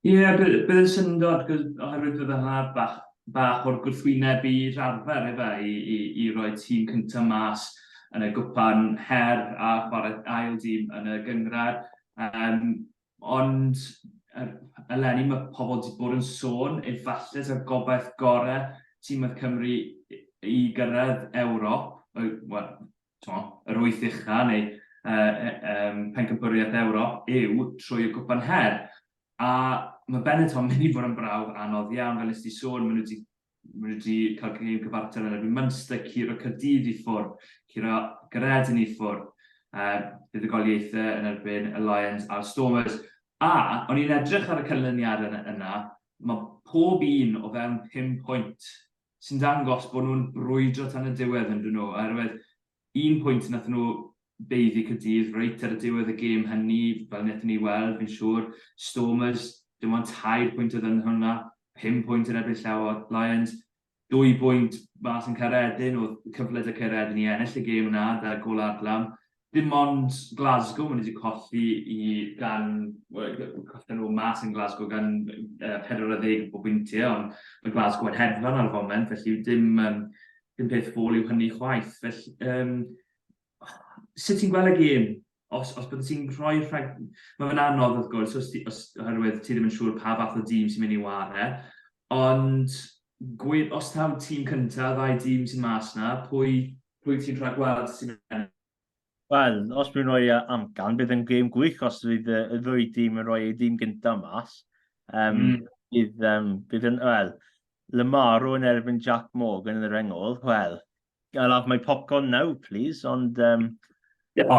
Ie, yeah, bydd, bydd
yn syndod, oherwydd bydd y haf bach bach o'r gwrthwyneb i rarfer efe i i i roi tîm cynta mas yn y gwpan her a chware ail dîm yn y gynghrair yym ond yy eleni ma' pobl di bod yn sôn efalle ta'r gobaith gore tîm oedd Cymru i gyrraedd Ewrop yy wel tmo, yr wyth ucha neu uh, um, pencampwriaeth Ewrop yw trwy y cwpan her. A mae Benetton mynd i fod yn brawf anodd iawn, fel nes ti sôn, maen nhw wedi maen nhw wedi cael gêm cyfartal yn erbyn Munster, curo Cyrdydd i ffwrdd, curo Gredyn i ffwrdd, uh, bydd y goliaethau yn erbyn y Lions a'r Stormers. A, o'n i'n edrych ar y canlyniad yna, mae pob un o fewn 5 pwynt sy'n dangos bod nhw'n brwydro tan y diwedd yn dŷn nhw oherwydd un pwynt wnaethon nhw baeddu Caerdydd reit ar y diwedd y gêm hynny fel wnaethon ni weld fi'n siŵr Stormers dim ond tair pwynt oedd yn hwnna pum pwynt yn erbyn Llew a Lions dwy bwynt mas yn Caeredin oedd cyfle 'da Caeredin i ennill y gêm yna 'da gôl Adlam dim ond Glasgow maen nhw wedi colli i gan, wel, colli nhw mas yn Glasgow gan uh, 40 o bwyntiau, ond mae Glasgow yn hedfan ar y foment, felly dim, um, dim peth fôl yw hynny chwaith. Felly, um, sut ti'n gweld y gêm? Os, os byddwn ti'n rhoi rhag... Mae fe'n anodd, wrth gwrs, os, os, oherwydd ti ddim yn siŵr pa fath o dîm sy'n mynd i ware, ond Gwyn, os taw tîm cyntaf, ddau dîm sy'n mas na, pwy, pwy ti'n rhagweld sy'n ennill? Wel,
os mi'n rhoi amcan, bydd yn gêm gwych os fydd y ddwy dîm yn rhoi ei dîm gyntaf mas. Um, mm. bydd, um, bydd yn, wel, Lamaro yn erbyn Jack Morgan yn yr engol, wel, I'll have my popcorn now, please, ond... Um... O,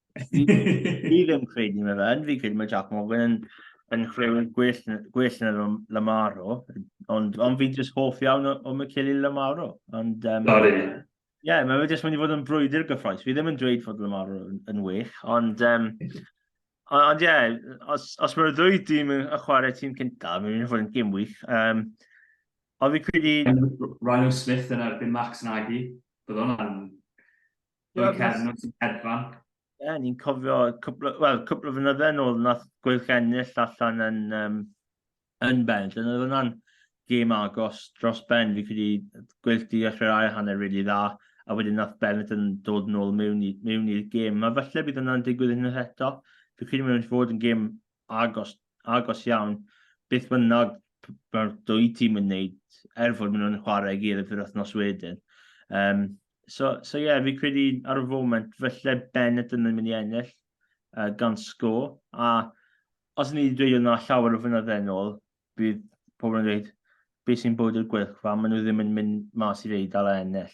Fi ddim credu mae fe'n, fi credu mae Jack Morgan yn, yn chwaraewyr gwell, gwell na Lamaro, ond, ond fi'n just hoff iawn o, o Michele Lamaro. Ond, um, Sorry. Ie, yeah, mae fe jyst mynd i fod yn brwydr gyffroes. Fi ddim yn dweud fod Lamaro yn, yn wych, ond... Um, ond ie, yeah, os, os mae'r ddwy dîm yn chwarae tîm cyntaf, mae'n mynd i fod yn gym wych. Um, ond fi credu... Ryan Smith yn
erbyn Max Nagy, bydd hwnna'n Gwyl Cernw sy'n hedfan. Ie, yeah,
ni'n cofio cwpl, well, cwpl o fynydde yn ôl nath Gwyl Cennill allan yn, um, yn ben. Dyna oedd hwnna'n gêm agos dros ben. Fi credu Gwyl di dechrau'r ail hanner rili really dda, a wedyn nath Bennett yn dod yn ôl mewn i'r gêm. Mae falle bydd hwnna'n digwydd yn eto. Fi credu mae'n mynd i fod yn gêm agos, agos iawn, beth bynnag mae'r dwy tîm yn wneud, er fod maen nhw'n chwarae i gilydd yr wythnos wedyn. Um, so, so yeah, fi credu ar y foment, felly Bennett yn mynd i ennill uh, gan sgo, a os ni wedi dweud yna llawer o fynydde yn ôl, bydd pobl yn dweud, beth sy'n bod i'r gwylchfa, maen nhw ddim yn mynd mas i'r eidl a ennill.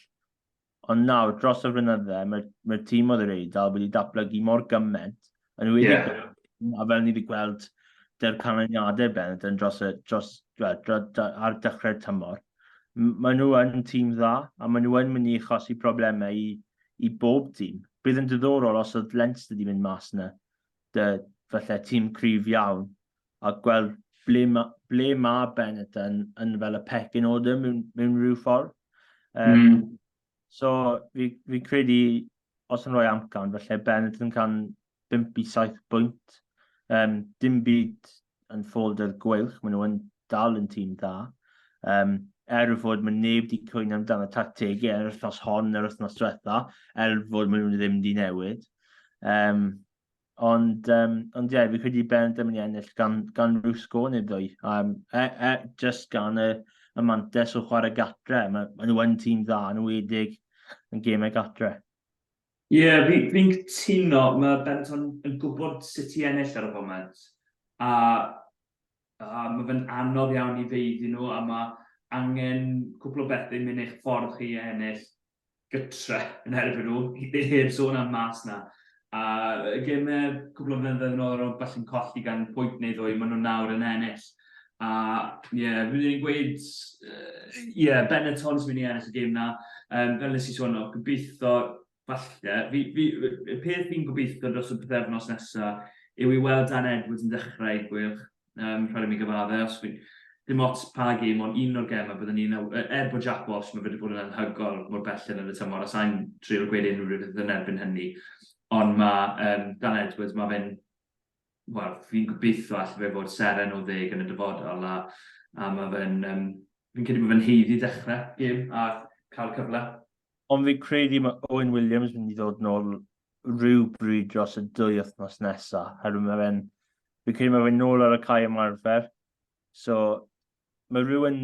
Ond nawr, dros y flynydde, mae'r mae tîm oedd yr Eidal wedi datblygu mor gymaint, yn wedi yeah. a fel ni wedi gweld dy'r canlyniadau bennod yn dros y, dros, dros, dros, dros, ar dechrau'r tymor. Maen nhw yn tîm dda, a maen nhw yn mynd i achosi problemau i, i bob tîm. Bydd yn diddorol os oedd Leinster wedi mynd mas yna, dy, falle tîm cryf iawn, a gweld ble ma', ble ma' Benetton yn fel y pecyn order mewn, mewn rhyw ffordd. Um, mm. So, fi, fi credu, os yn rhoi amcan, felly Benetton can 5 i 7 bwynt. Um, dim byd yn ffold yr gweilch, maen nhw'n dal yn tîm dda. Um, er y fod mae neb wedi cwyno amdano tactegau er wythnos hon, yr wythnos diwetha, er fod maen nhw'n ddim wedi newid. Um, Ond, um, ond ie, yeah, fi credu Ben ddim yn ennill gan, gan rhyw sgôr neu ddwy. Um, e, e, just gan y, y mantes o chwarae gatre. Mae ma nhw yn tîm dda, nhw wedig yn gemau gatre. Ie, yeah,
fi'n fi cytuno, mae Benton yn gwybod sut i ennill ar y foment, a, a mae fe'n anodd iawn i feiddi nhw, a mae angen cwpl o bethau mynd eich ffordd chi i ennill, gytre yn erbyn nhw, heb sôn am mas 'na. A y gemau cwpl o flynyddoedd yn ôl o'n nhw falle'n colli gan pwynt neu ddwy, maen nhw nawr yn ennill. A ie, rydyn ni'n gweud ie, Benetton sy'n mynd i ennill y gêm 'na. Yym, fel nes i sôn, o, gobeithio, falle, fi, fi, y peth fi'n gobeithio dros y pythefnos nesa yw i weld Dan Edwards yn dechrau, gwych. Um, rhaid i mi gyfadde, os fi... Dim ots pa gêm, ond un o'r gemau byddwn ni'n... Er bod Jack Walsh, mae wedi bod yn anhygol mor belled yn y tymor, a sa'n trio gweud unrhyw rhywbeth yn erbyn hynny. Ond mae um, Dan Edwards, mae fe'n... Wel, fi'n gobeithio allai fe fod seren o ddeg yn y dyfodol, a, a mae fe'n... Um, fi'n credu bod fe'n heiddi dechrau gêm a cael cyfle. Ond fi'n
credu mae Owen Williams yn mynd i ddod nôl rhyw bryd dros y dwy wythnos nesaf, herwydd mae fe'n Fi'n credu mae fe'n nôl ar y cae ymarfer. So, mae rhywun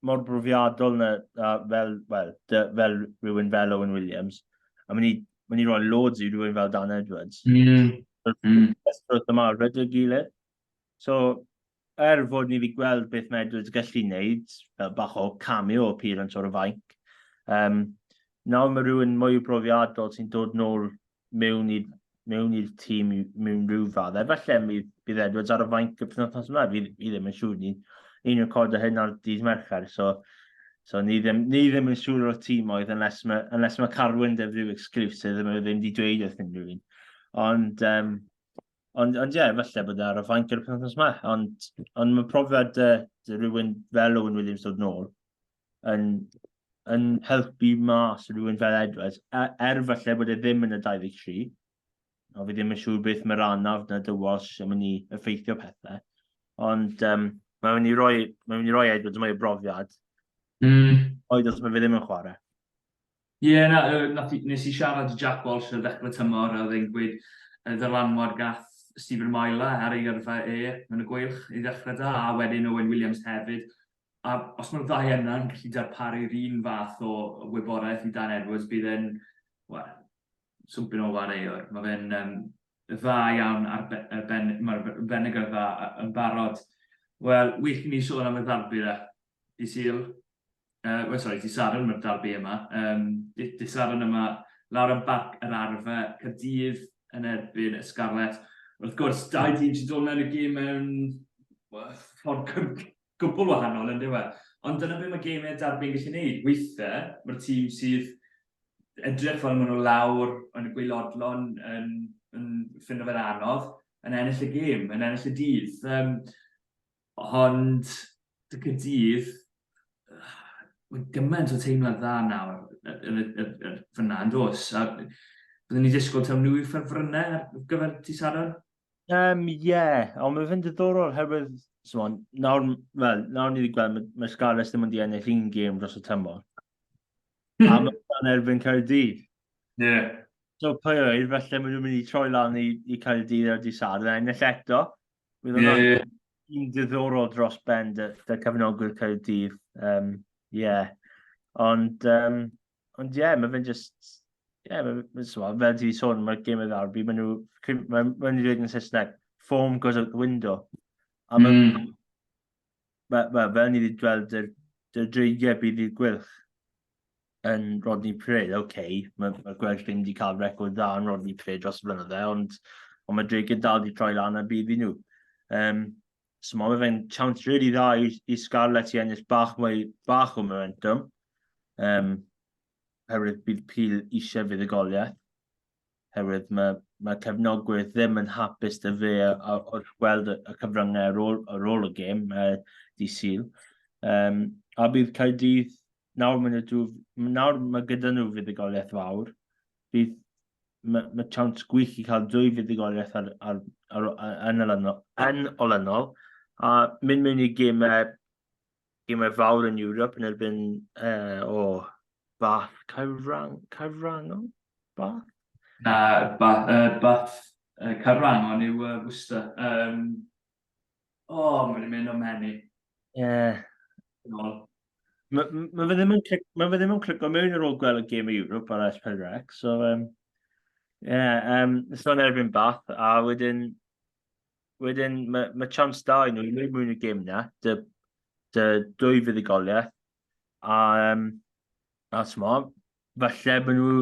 mor brofiadol na, na fel, well, fel rhywun fel Owen Williams. A mae'n i, mae i roi loads i rhywun fel Dan Edwards. Mm. Mm. Wrth yma, rydw gilydd. So, er fod ni wedi gweld beth mae Edwards gallu wneud, fel bach o cameo appearance o'r y fainc, um, nawr mae rhywun mwy o brofiadol sy'n dod nôl mewn i'r mewn i'r tîm mewn rhyw fath. Efallai bydd, bydd Edwards ar y fainc y penwthnos yma, fi, fi ddim yn siŵr. Ni'n ni recordio hyn ar dydd Mercher, so, so ni, ddim, ni ddim yn siŵr o'r tîm oedd, unless mae, unless mae Carwyn def rhyw exclusive, ddim, ddim wedi dweud wrth unrhyw un. Ond, um, ond, ond ie, yeah, efallai bod e ar y fainc ar y penwthnos yma. Ond, ond mae profiad uh, rhywun fel Owen Williams dod nôl, yn, yn helpu mas rhywun fel Edwards, e, er falle bod e ddim yn y 23, o fi ddim yn siŵr beth mae'r anaf na dy Walsh yn mynd i effeithio pethau, ond um, mae'n mynd i roi, mae'n mynd i roi Edwards mwy o brofiad, mm. oed os mae fe ddim yn chwarae. Ie, yeah, na, na,
nes i siarad i Jack Walsh ar ddechrau tymor a ddyn gweud y ddylanwad gath Stephen Myla ar ei gyrfa e yn y gweilch i ddechrau da, a wedyn Owen Williams hefyd, a os mae'r ddau yna yn gallu darparu'r un fath o wybodaeth i Dan Edwards, bydd e'n, wel, swmpyn o wareuwr. Mae fe'n um, dda iawn ar be, ar ben, mae'r benegr dda yn barod. Wel, wych i ni sôn am y ddarbu dda. Di Sil, uh, well, sorry, di Sadwn mae'r darbu yma. Um, di, di Sadwn yma lawr yn barc yr arfa, Cadydd yn erbyn y Scarlet. Wrth gwrs, dau dîm sy'n dod mewn y gym mewn ffordd Gwbl wahanol, yndyw e? Ond dyna be mae gemau derby yn gallu neud. Weithe, mae'r tîm sydd edrych fel maen nhw lawr yn y gwaelodlon yn, yn ffindo fe'n anodd, yn ennill y gêm, yn ennill y dydd. Um, ond, dy cydydd, mae gymaint o teimlad dda nawr yn y, y, y, fyna yn dos. A byddwn ni disgwyl taw nhw i ffefrynnau ar gyfer ti Sadwrn? Um, ie,
ond mae'n fynd ddiddorol herwydd, Simon, nawr, well, nawr ni wedi gweld, mae, mae Scarlets ddim wedi ennill un gêm dros y tymor. Hmm. a mae'n dan erbyn Caerdydd. Ie. Yeah.
So pwy
oedd, felly maen nhw'n mynd i troi lan i, i Caerdydd ar dydd Sadwrn, a ennill eto. Bydd yeah, yeah.
un
diddorol dros ben dy, dy cyfnogwyr Caerdydd. Um, yeah. Ond, um, Ond ie, yeah, mae fe'n just... Ie, yeah, mae fe'n just... Fel ti wedi sôn, mae'r gêm yn ddawr. Mae nhw... Mae nhw'n dweud yn Saesneg, foam goes out the window. A mae... Mm. Mae, mae, fel ni wedi gweld yr, yr dreigiau bydd i'r gwylch yn Rodney Prid, oce, okay, mae, ma gwelch ddim wedi cael record dda yn Rodney Prid dros y blynydde, ond, ond mae dreigiau dal wedi troi lan a bydd i nhw. Um, So mae fe'n chance really dda i, i Scarlett i ennill bach mwy, bach o momentum. Um, herwydd bydd Peel eisiau fuddugoliaeth. Herwydd mae, mae cefnogwyr ddim yn hapus dy fe wrth gweld y cyfryngau ar ôl, ar ôl y gêm, uh, di syl. Um, a bydd Caerdydd nawr, maen nhw, nawr mae gyda nhw fuddugoliaeth fawr, bydd mae, mae chance gwych i cael dwy fuddugoliaeth ar, ar, ar, ar, yn, olynol, yn olynol, a mynd mewn i gemau, gemau fawr yn Ewrop yn erbyn uh, o Bath Caerwrang, Caerwrangol? Bath? Na, Bath, uh,
Bath uh, Caerwrangol yw uh, Worcester. Um, O, oh, mae wedi mynd o menu. Ie. Yeah.
Mae ma fe ddim yn clic, ma fe ddim yn clic o mewn ar ôl gweld y gêm i Europe ar S4 Rec, so um, yeah, um, it's not erbyn bath, a wedyn, wedyn mae ma chance da i nhw i mewn y gêm na, dy, dy dwy fuddugoliaeth, A, um, a mo, falle bod nhw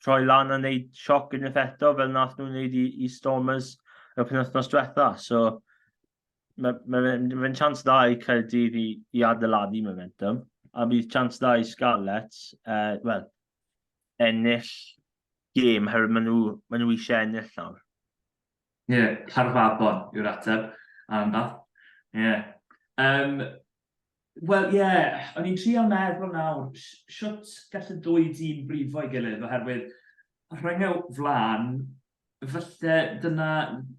troi lan a wneud sioc yn effetto fel nath nhw'n wneud i, i Stormers y penwthnos diwetha. So, mae'n ma, ma, ma, ma chance dda i Caerdydd i, i adeiladu momentum, a bydd chance dda i Scarlets, uh, well, ennill gêm, herwydd maen nhw, ma nhw eisiau ennill nawr. Ie, yeah, Llanfabon
yw'r ateb, am da. Ie. Yeah. Um, Wel, ie, o'n i'n trio meddwl nawr, siwt gall y dwy dîm brifo'i gilydd, oherwydd rhyngau flan, falle dyna,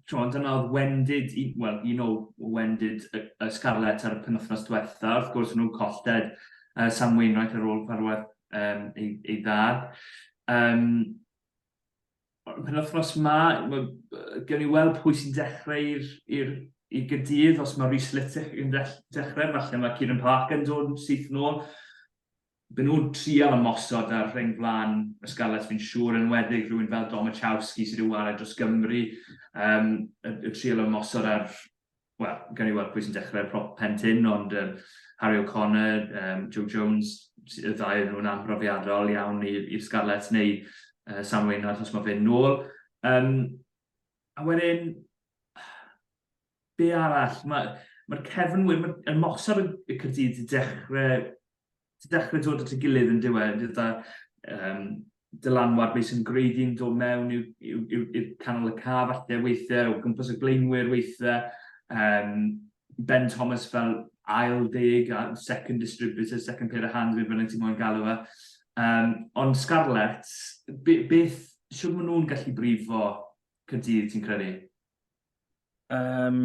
tron, dyna oedd wendid, wel, un o wendid y, y Scarlets ar y penwthnos diwetha, wrth gwrs nhw'n colled uh, Sam Wainwright ar ôl farwedd um, ei, ei ddad. Um, pen wythnos ma, gen ni weld pwy sy'n dechrau i'r i gydydd, os mae Rhys Littick yn dechrau, falle mae Kieran Parker yn dod yn syth yn ôl. Byn nhw'n trial ymosod ar rheng flan y Scarlets fi'n siŵr, yn weddig rhywun fel Domachowski sydd wedi wared dros Gymru, um, y, y trial ymosod ar wel, gawn ni weld pwy sy'n dechrau ar prop Pen Tyn, ond um, Harry O'Connor, um, Joe Jones, y ddau nhw'n amhrofiadol iawn i'r Scarlets neu uh, Sam Waynard os mae fe'n nôl. Um, a wedyn, be arall? Mae'r ma cefn, yn mosod y Cyrdydd i dechrau ti'n dechrau dod at y gilydd yn diwedd, gyda um, dylanwad beth sy'n gwreiddi'n dod mewn i'w, i'w, i'w, i'w canol y ca falle weithiau, o gwmpas y blaenwyr weithiau, um, Ben Thomas fel ail deg, a second distributor, second pair of hands, fe bynnag ti'n mwyn galw fe. Um, ond Scarlett, be, beth, siwr maen nhw'n gallu brifo cydydd ti'n credu? Um,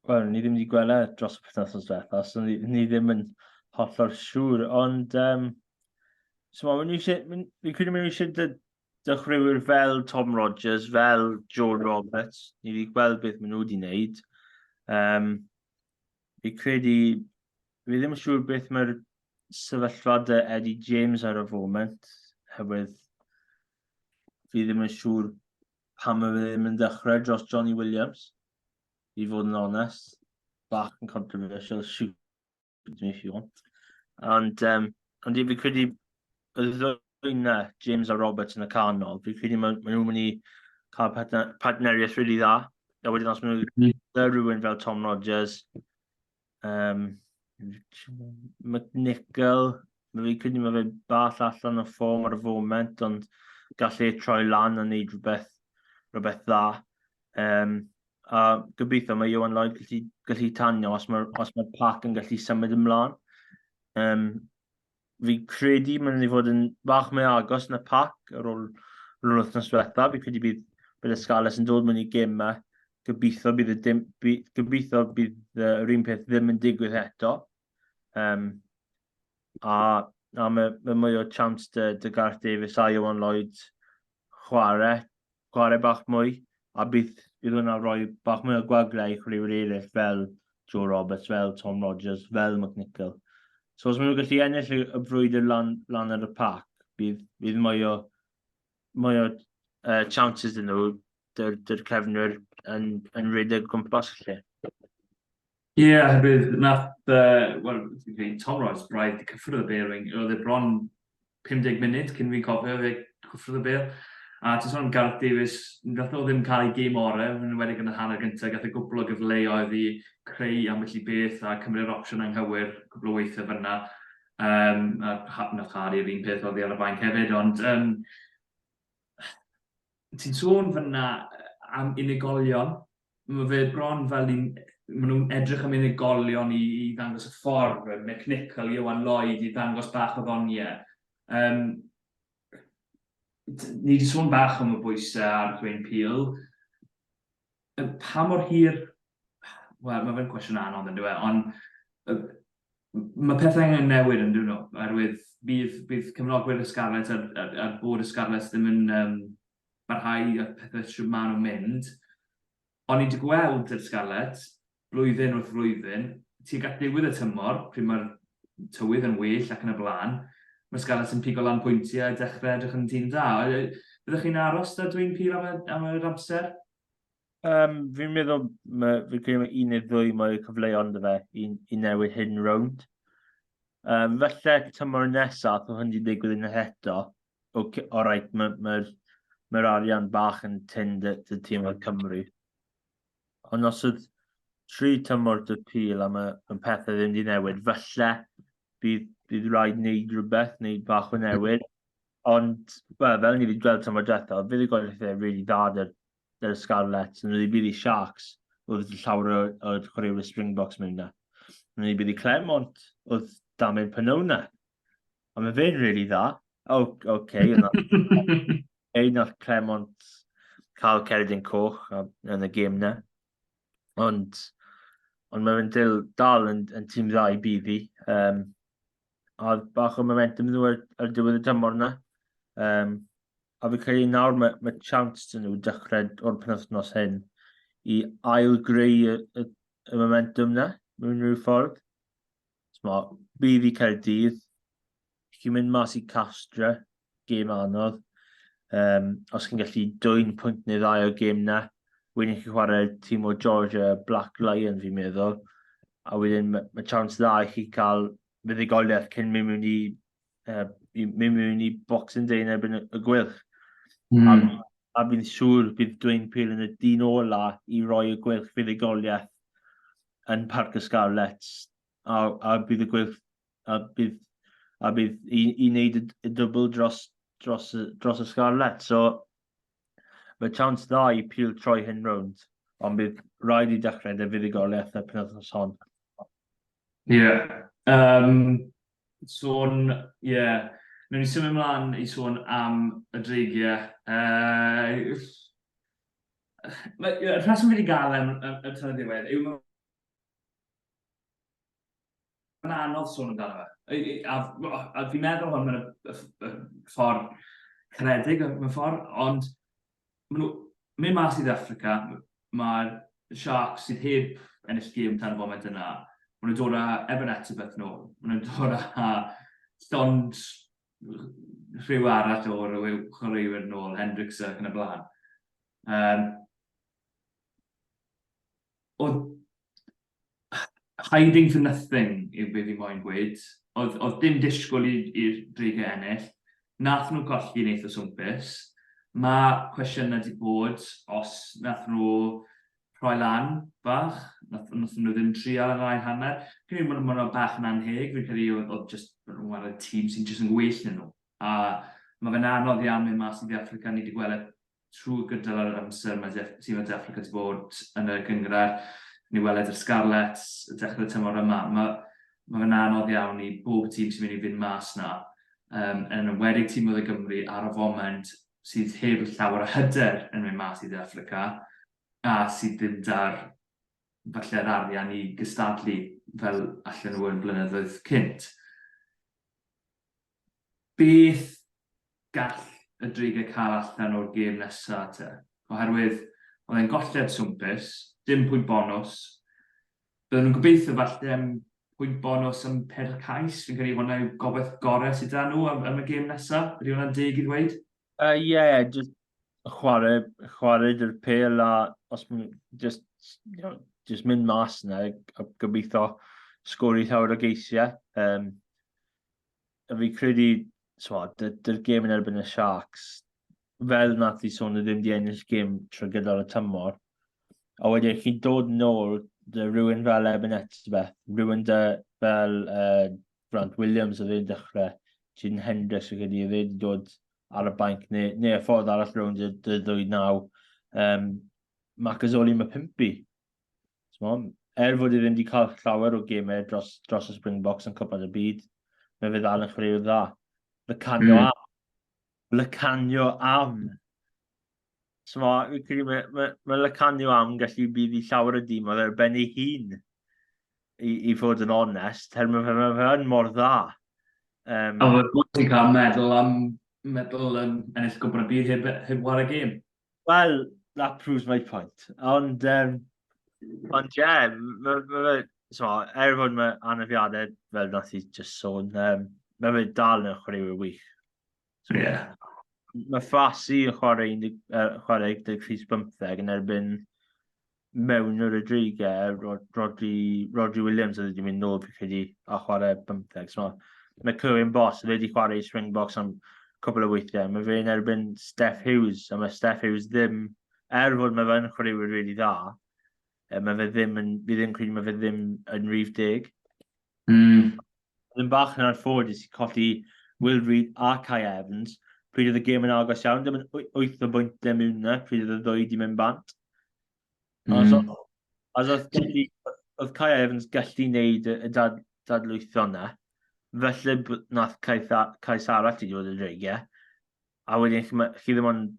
Wel, ni ddim wedi gwella e dros y penwthnos diwetha, so ni, ni ddim yn hollol siŵr, ond... Um, so ma, ni eisiau, fi'n credu mynd eisiau dy, dychwyrwyr fel Tom Rogers, fel Joel Roberts, ni wedi gweld beth maen nhw wedi wneud. Um, fi'n credu, fi ddim yn siŵr beth mae'r sefyllfa dy Eddie James ar y foment, hefyd fi ddim yn siŵr pam mae fe ddim yn dechrau dros Johnny Williams. i fod yn onest. Bach yn controversial, shoot me if you want. Ond, um, ond i fi credu, y ddwy na, James a Roberts yn y canol, fi credu maen ma nhw'n mynd i cael partneriaeth rili really dda. A wedyn os maen nhw'n mm. rhywun fel Tom Rogers, Yym, McNichol, fi'n credu mae fe bach allan o ffom ar y foment, ond gallu ei troi lan a wneud rhywbeth, rhywbeth dda. Um, a gobeithio mae Iwan Lloyd gallu, gallu tanio os mae'r os mae pac yn gallu symud ymlaen. Um, fi credu mae'n mynd i fod yn bach mwy agos na pac ar ôl yn yr wythnos diwetha. Fi credu bydd, bydd y Scarlets yn dod mewn i gemau. Gobeithio bydd, y dim, by, gobeithio bydd yr un peth ddim yn digwydd eto. Um, a, a mae, mae mwy o chance dy, dy Garth Davies a Iwan Lloyd chwarae chwarae bach mwy, a bydd bydd hwnna'n rhoi bach mwy o gwagle i chwaraewyr eraill fel Joe Roberts, fel Tom Rogers, fel McNichol. So os maen nhw'n gallu ennill y, y frwydr lan, lan ar y pac, bydd, bydd mwy o, mwy o uh, chances yn nhw, dy'r, dy'r cefnwyr yn, yn rhedeg gwmpas lle. Ie, yeah,
hefyd, nath, uh, well, Tom Ross, braidd i cyffwrdd y bearing, oedd e bron 50 munud cyn fi'n cofio fe gwffrodd y bêl. A ti'n sôn am Gareth Davies, wnaeth nhw ddim cael eu gêm orau, yn enwedig yn y hanner gyntaf, gath e gwpl o gyfleoedd i creu ambell i beth a cymryd yr opsiwn anghywir cwpl o weithiau fan'na. Yym a ha- wnaeth Harry yr un peth oddi ar y fainc hefyd, ond yym ti'n sôn fan'na yy am unigolion Mae fe bron fel ni'n... maen nhw'n edrych am unigolion i, i ddangos y ffordd, Mick Nichol, Ieuan Lloyd, i ddangos bach o ddonie. Um, ni wedi sôn bach am y bwysau ar Dwayne Peel. Pa mor hir... Wel, mae fe'n cwestiwn anodd yn dweud, ond mae pethau angen newid yn dweud nhw, oherwydd bydd, bydd cefnogwyr y Scarlets a'r, a'r, a'r bod y Scarlets ddim yn um, barhau a pethau shwt maen nhw'n mynd. O'n i 'di gweld yr Scarlets blwyddyn wrth flwyddyn, tuag at ddiwedd y tymor, pryd mae'r tywydd yn well ac yn y blaen, mae'r Scarlets yn pigo lan pwyntiau a dechrau edrych yn tîm da. Fyddech chi'n aros 'da Dwayne Peel am y, am yr amser? Um,
fi'n meddwl, mae, fi'n credu mae un neu ddwy mwy o cyfleoedd fe i, i newid hyn rownd. Um, felly, tymor nesaf, o hyn di digwydd yn eto, ok, alright, mae'r ma, ma, ma arian bach yn tyn dy, dy tîm o'r Cymru. Ond os oedd tri tymor dy pil a mae, ma pethau ddim wedi newid, falle bydd, bydd rhaid wneud rhywbeth, wneud bach o newid. Ond, well, fel ni wedi gweld tymor diwetha, oedd bydd y gweithio really dda dy'r, dy'r Scarlets, nhw wedi bydd i Sharks, oedd llawer o'r chwaraewyr Springboks mewn na. Nhw wedi bydd i Clermont, oedd Damien Pynona. Ond mae fe'n really dda. O, oce. Ei, nath Clement cael Ceridin Coch yn y gêm na. Ond, ond mae fe'n dil, dal yn, yn tîm dda i BV. Um, a bach o momentum nhw ar, ar diwedd y tymor na. Um, a fi'n credu nawr mae, mae chance dyn nhw dechrau o'r penwthnos hyn i ail greu y, y, y momentum na, mewn rhyw ffordd. Mo, bydd i Caerdydd, chi'n mynd mas i Castra, gêm anodd. Um, os chi'n gallu dwy'n pwynt neu ddau o gêm na, wedyn chi'n chwarae tîm o Georgia Black Lion fi'n meddwl, a wedyn mae ma chance dda i chi cael fuddugoliaeth cyn mynd mewn i, uh, mynd mewn i Boxing Day yn erbyn y gwylch. Mm. A, hmm. a fi'n siŵr bydd Dwayne Peel yn y dyn ola i roi y gwylch fuddugoliaeth yn Parc y Scarlets, a, a bydd y gweilch, a bydd, a bydd i, i wneud y, y dwbl dros, dros, dros y Scarlets. So, mae chance dda i pil troi hyn rownd, ond bydd rhaid i dechrau dy fuddugoliaeth y penwthnos hon. Ie. Yeah. Um, sôn, ie, yeah,
Nw'n i symud ymlaen i sôn am y dreigiau. Uh, Y rheswm fi wedi gael yn y tynnu ddiwedd yw mae'n mae'n anodd sôn amdano fe. A, a, a fi'n meddwl hwn mewn y ffordd caredig mewn ffordd, ond maen nhw mynd mas i Africa, mae'r Sharks sydd heb ennill gêm tan y foment yna, maen nhw'n dod â Evan Etzebeth nôl, maen nhw'n dod â llond rhyw arall o rhyw chwaraewyr yn ôl, Hendricks ac yn y blaen. Um, oedd hiding for nothing yw beth i moyn gweud. Oedd, oedd dim disgwyl i'r dreigau ennill. Nath nhw golli neith o swmpus. Mae cwestiynau wedi bod os nath nhw rhoi lan bach, wnaethon nhw ddim trial yn yr ail hanner. Fi'n credu bod hwnna bach yn anheg, fi'n credu oedd jyst nhw'n y tîm sy'n jyst yn gwell na nhw. A mae fe'n anodd iawn mynd mas i De Affrica, ni wedi gweld e trwy gydol yr amser mae De, sydd mae De Affrica wedi bod yn y gyngrair. Ni weled yr Scarlets y dechrau tymor yma. Mae, mae fe'n anodd iawn i bob tîm sy'n mynd i fynd mas na, um, yn enwedig tîm oedd y Gymru ar y foment sydd heb llawer o hyder yn mynd mas i De Affrica a sydd ddim da'r falle yr arian i gystadlu fel allan nhw yn blynyddoedd cynt. Beth gall y dreigiau cael allan o'r gêm nesaf te? Oherwydd oedd e'n golled swmpus, dim pwynt bonws, Byddwn yn gobeithio falle am pwynt bonws am peder cais, fi'n credu hwnna yw gobaith gorau sydd da nhw am, am y gêm nesaf, ydy hwnna'n deg i ddweud? Ie, uh, yeah,
just chwarae, chwarae dy'r pel a os mae'n just, you know, just mynd mas yna a gobeithio sgori llawer o geisiau. Um, a fi credu, twa, dy'r gêm yn erbyn y Sharks, fel nath i sôn, ddim di ennill gêm trwy gydol y tymor. A wedyn chi'n dod nôl dy rhywun fel Eben Etzbeth, rhywun dy fel uh, Grant Williams oedd e'n dechrau, Jyn Hendricks oedd wedi wedi dod ar y banc, neu, neu y ffordd arall rhywun dy, dy ddwy naw. Um, Macazoli mae pimpi. er fod e ddim wedi cael llawer o gemau dros, dros y Springboks yn cwpad y byd, mae fe ddal yn chwaraewr dda. Lycanio mm. am. Lycanio am. So mae, credu, mae, mae, mae Lycanio am gallu bydd i llawer o dîm, oedd ar ben ei hun, i, i fod yn onest, her mae fe, mae fe yn mor dda. Um,
a mae bwysig cael meddwl am meddwl yn ennill gwybod y byd heb, heb war y gêm. Wel,
that proves my point. Ond, um... Ond, ie, yeah, mae ma, ma, so, er fod mae anafiadau, fel nath i just sôn, um, mae fe dal yn chwaraewyr wych. So, ie. Yeah. Mae Ffasi yn chwarae, uh, chwarae 13 yn erbyn mewn yr y dreigau, Rodri, Rodri Williams oedd wedi mynd nôl fi chi wedi a chwarae bymtheg. So, mae Clywyn Bos, fe wedi chwarae i Springboks am cwbl o weithiau. Mae fe'n erbyn Steph Hughes, a mae Steph Hughes ddim, er fod mae fe'n chwaraewyr really dda, e, mae fe ddim yn, fi ddim credu mae fe ddim yn rhif deg. Mm. Oedd yn bach yn anffodus i colli Will Reid a Kai Evans pryd oedd y gêm yn agos iawn, dim yn wyth o bwyntiau mewn na pryd oedd y ddwy wedi mynd bant. Mm. So, as oedd, gallu, oedd Kai Evans gallu wneud y dad, dadlwytho na, felly nath Kai, Kai Sara ti wedi bod yn dreigiau, a wedyn chi, chi ddim ond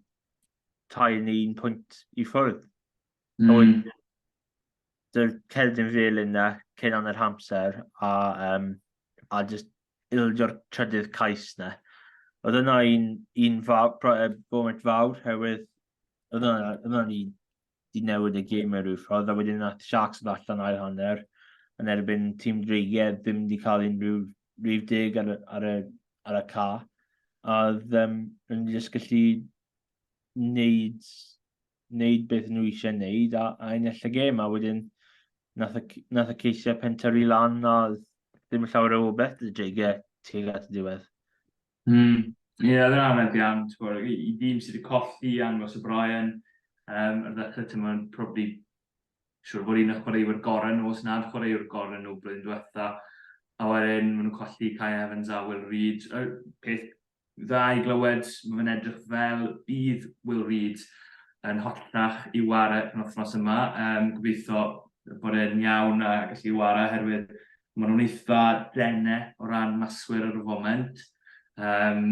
tair neu un pwynt i ffwrdd. Oedd mm. dy'r cerdyn fel yna cyn anna'r hamser a, um, a just ildio'r trydydd cais na. Oedd yna un, un fawr, foment fawr, herwydd oedd yna, oedd yna ni di newid y gêm mewn rhyw ffordd, a wedyn nath Sharks yn allan ail hanner, yn erbyn tîm Dreigedd, ddim wedi cael unrhyw rhyw deg ar, ar, y, ar y ca. A ddim yn just gallu wneud wneud beth nhw eisiau wneud a, a ennill y gêm, a wedyn nath y, nath y ceisiau pentyrru lan a ddim yn llawer o obeth y dreigiau tuag at y diwedd. Mm.
Ie, yeah, dyna fe bian, i, i ddim sydd wedi colli angos y Brian, um, ar ddechrau ti'n mwyn probably siwr bod un o chwaraewyr gorau nhw, os nad chwaraewr gorau nhw blwyddyn diwetha, a wedyn maen nhw'n colli Kai Evans a Will Reed, y peth dda i glywed, mae fe'n edrych fel bydd Will Reid yn holltach i ware yn wythnos yma. Um, gobeithio bod e'n iawn a gallu ware, oherwydd maen nhw'n eitha dene o ran maswyr ar y foment. Um,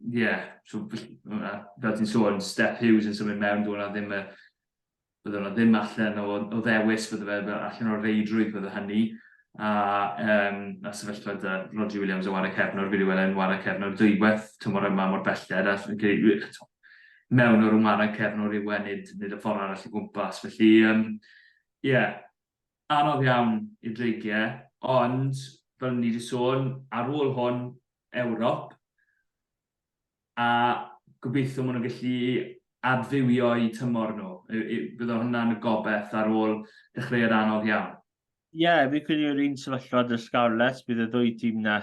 yeah, so, fel ti'n sôn, Steph Hughes yn symud mewn, dwi'n ddim y bydde yna ddim allan o o ddewis bydde fe fel allan o'r reidrwydd bydde hynny a yym a sefyllfa da Rhodri Williams yn ware cefnwr fi wedi weld e'n ware cefnwr dwywaith tymor yma mor belled a fi'n credu eto mewn o'r ware cefnwr yw e nid nid y ffordd arall o gwmpas felly yym ie yeah, anodd iawn i dreigiau ond fel ni wedi sôn ar ôl hwn Ewrop a gobeithio maen nhw'n gallu adfywio'u tymor nhw. Bydd hwnna'n y gobeth ar ôl dechreuad anodd iawn. Ie, yeah, fi'n credu
yr un sefyllfa dy Scarlets, bydd y ddwy tîm na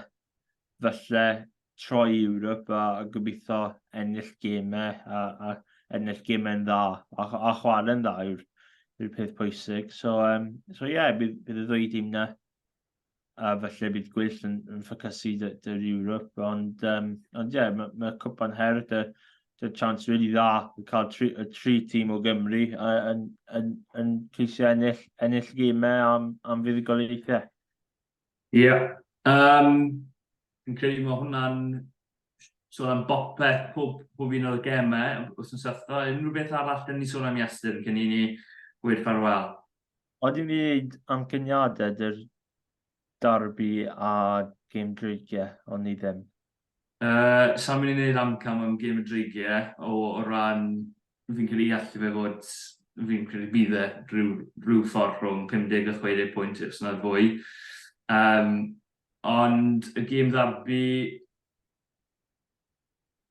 falle troi i Ewrop a, a gobeithio ennill gemau a, a ennill gemau'n dda a, a chwarae'n dda yw'r yw peth pwysig. So, um, so yeah, bydd, bydd y ddwy tîm na a falle bydd gweill yn, yn ffocysu dy, dy'r Europe, ond, um, ond yeah, mae ma cwpan her dy, dy chance really dda i cael tri, y tri tîm o Gymru yn, yn, yn ceisio ennill, ennill gymau am, am fuddugoliaethau. Ie, yeah. um,
fi'n credu mae hwnna'n sôn am bopeth, pob, pob un o'r gemau, os yn sythfa, unrhyw beth arall, dyn ni sôn am Iestyn, cyn i ni gweud ffarwel. Odi fi wneud
amcaniadau dy'r darbi a gêm dreigie, ond ni ddim. Yy,
sai'n mynd i wneud amcan am gêm y dreigie, o o ran fi'n credu i allu fe fod, fi'n credu bydd e rhyw rhyw ffordd rhwng 50 a 60 pwynt os nad fwy. Yym, ond y gêm ddarbi,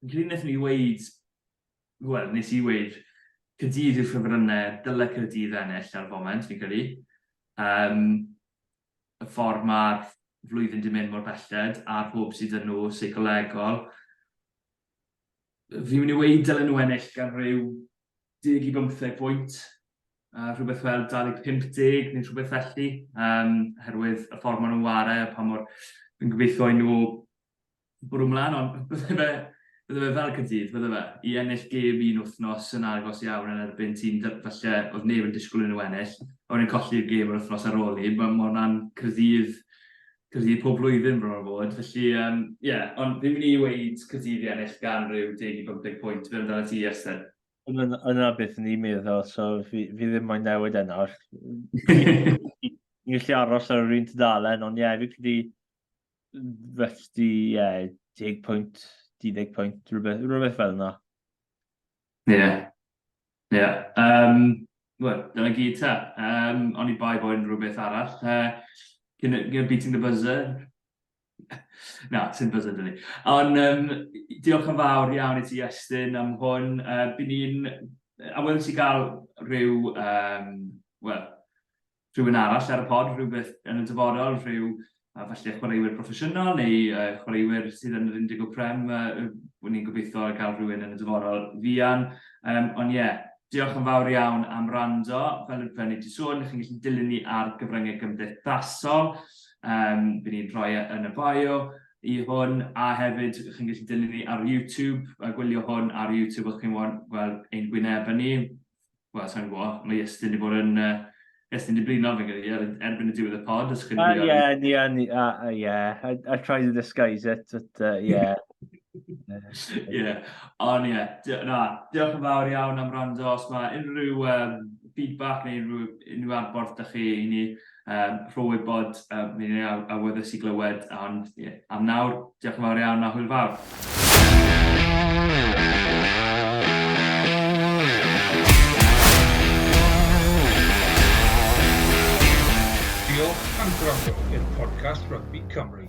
Rhyn wnaethon ni weid, wel, nes i weid, Caerdydd yw'r ffefrynnau, dyle Caerdydd ennill ar y foment, fi'n credu. Um, y ffordd mae'r flwyddyn di mynd mor belled, a'r hwb sydd yn nhw, seicolegol. Fi'n mynd i weid dylen nhw ennill gan rhyw 10 i 15 bwynt, uh, rhywbeth fel 25 neu rhywbeth felly, um, herwydd y ffordd maen nhw'n ware, pa mor... Fi'n gobeithio i nhw bwrw mlaen, ond bydde fe, bydde fe fel Caerdydd, bydde fe, i ennill gêm un wythnos yn agos iawn yn erbyn tîm falle oedd neb yn disgwyl yn nhw ennill, a wedyn colli'r gêm yr wythnos ar ôl ni, mae hwnna'n Caerdydd, Caerdydd pob blwyddyn bron a bod, felly ie, um, yeah, ond fi'n mynd i weid Caerdydd i ennill gan rhyw 10 i 15 pwynt, fel amdano ti, Esther? Yna beth
ni'n meddwl, so fi, fi ddim moyn newid yna. Ni'n gallu aros ar yr un tudalen, ond ie, yeah, fi credu Refti, ie, yeah, 10 pwynt, 12 pwynt, rhywbeth, rhywbeth fel yna. Ie. Yeah. Ie. Yeah.
Um, Wel, dyna gyd ta. Um, o'n i bai bod yn rhywbeth arall. Uh, cyn, cyn beating the buzzer. Na, ti'n buzzer dyn ni. Ond um, diolch yn fawr iawn i ti, Estyn, am hwn. Uh, Byn ni'n... A wylwn ti gael rhyw... Um, Wel, rhywun arall ar y pod, rhywbeth yn y dyfodol, rhyw a falle chwaraewyr proffesiynol neu uh, chwaraewyr sydd yn yr 10 o Prem, uh, wyn ni'n gobeithio gael rhywun yn y dyfodol fian. Um, ond ie, yeah, diolch yn fawr iawn am rando. Fel y fel ni wedi sôn, chi'n gallu dilyn ni ar gyfryngau gymdeithasol. Um, Bydd ni'n rhoi e yn y bio i hwn, a hefyd chi'n gallu dilyn ni ar YouTube, a gwylio hwn ar YouTube os chi'n gweld ein gwynebau ni. wel, sa'n gwybod, mae Iestyn wedi bod yn... Uh, Iestyn wedi blino fe gyda er, erbyn y diwedd y pod, os chi'n gwybod. Ie, ie,
ie. I try to disguise it, but uh, yeah. Ie, ond ie,
na, diolch yn fawr iawn am rando. Os mae unrhyw um, feedback neu unrhyw, unrhyw adborth da chi i ni, Yym, rho wybod, yy, mi ni a- awyddus i glywed, ond, ie, am nawr, diolch yn fawr iawn a hwyl fawr.
Diolch am gwrando i'r podcast Rygbi Cymru.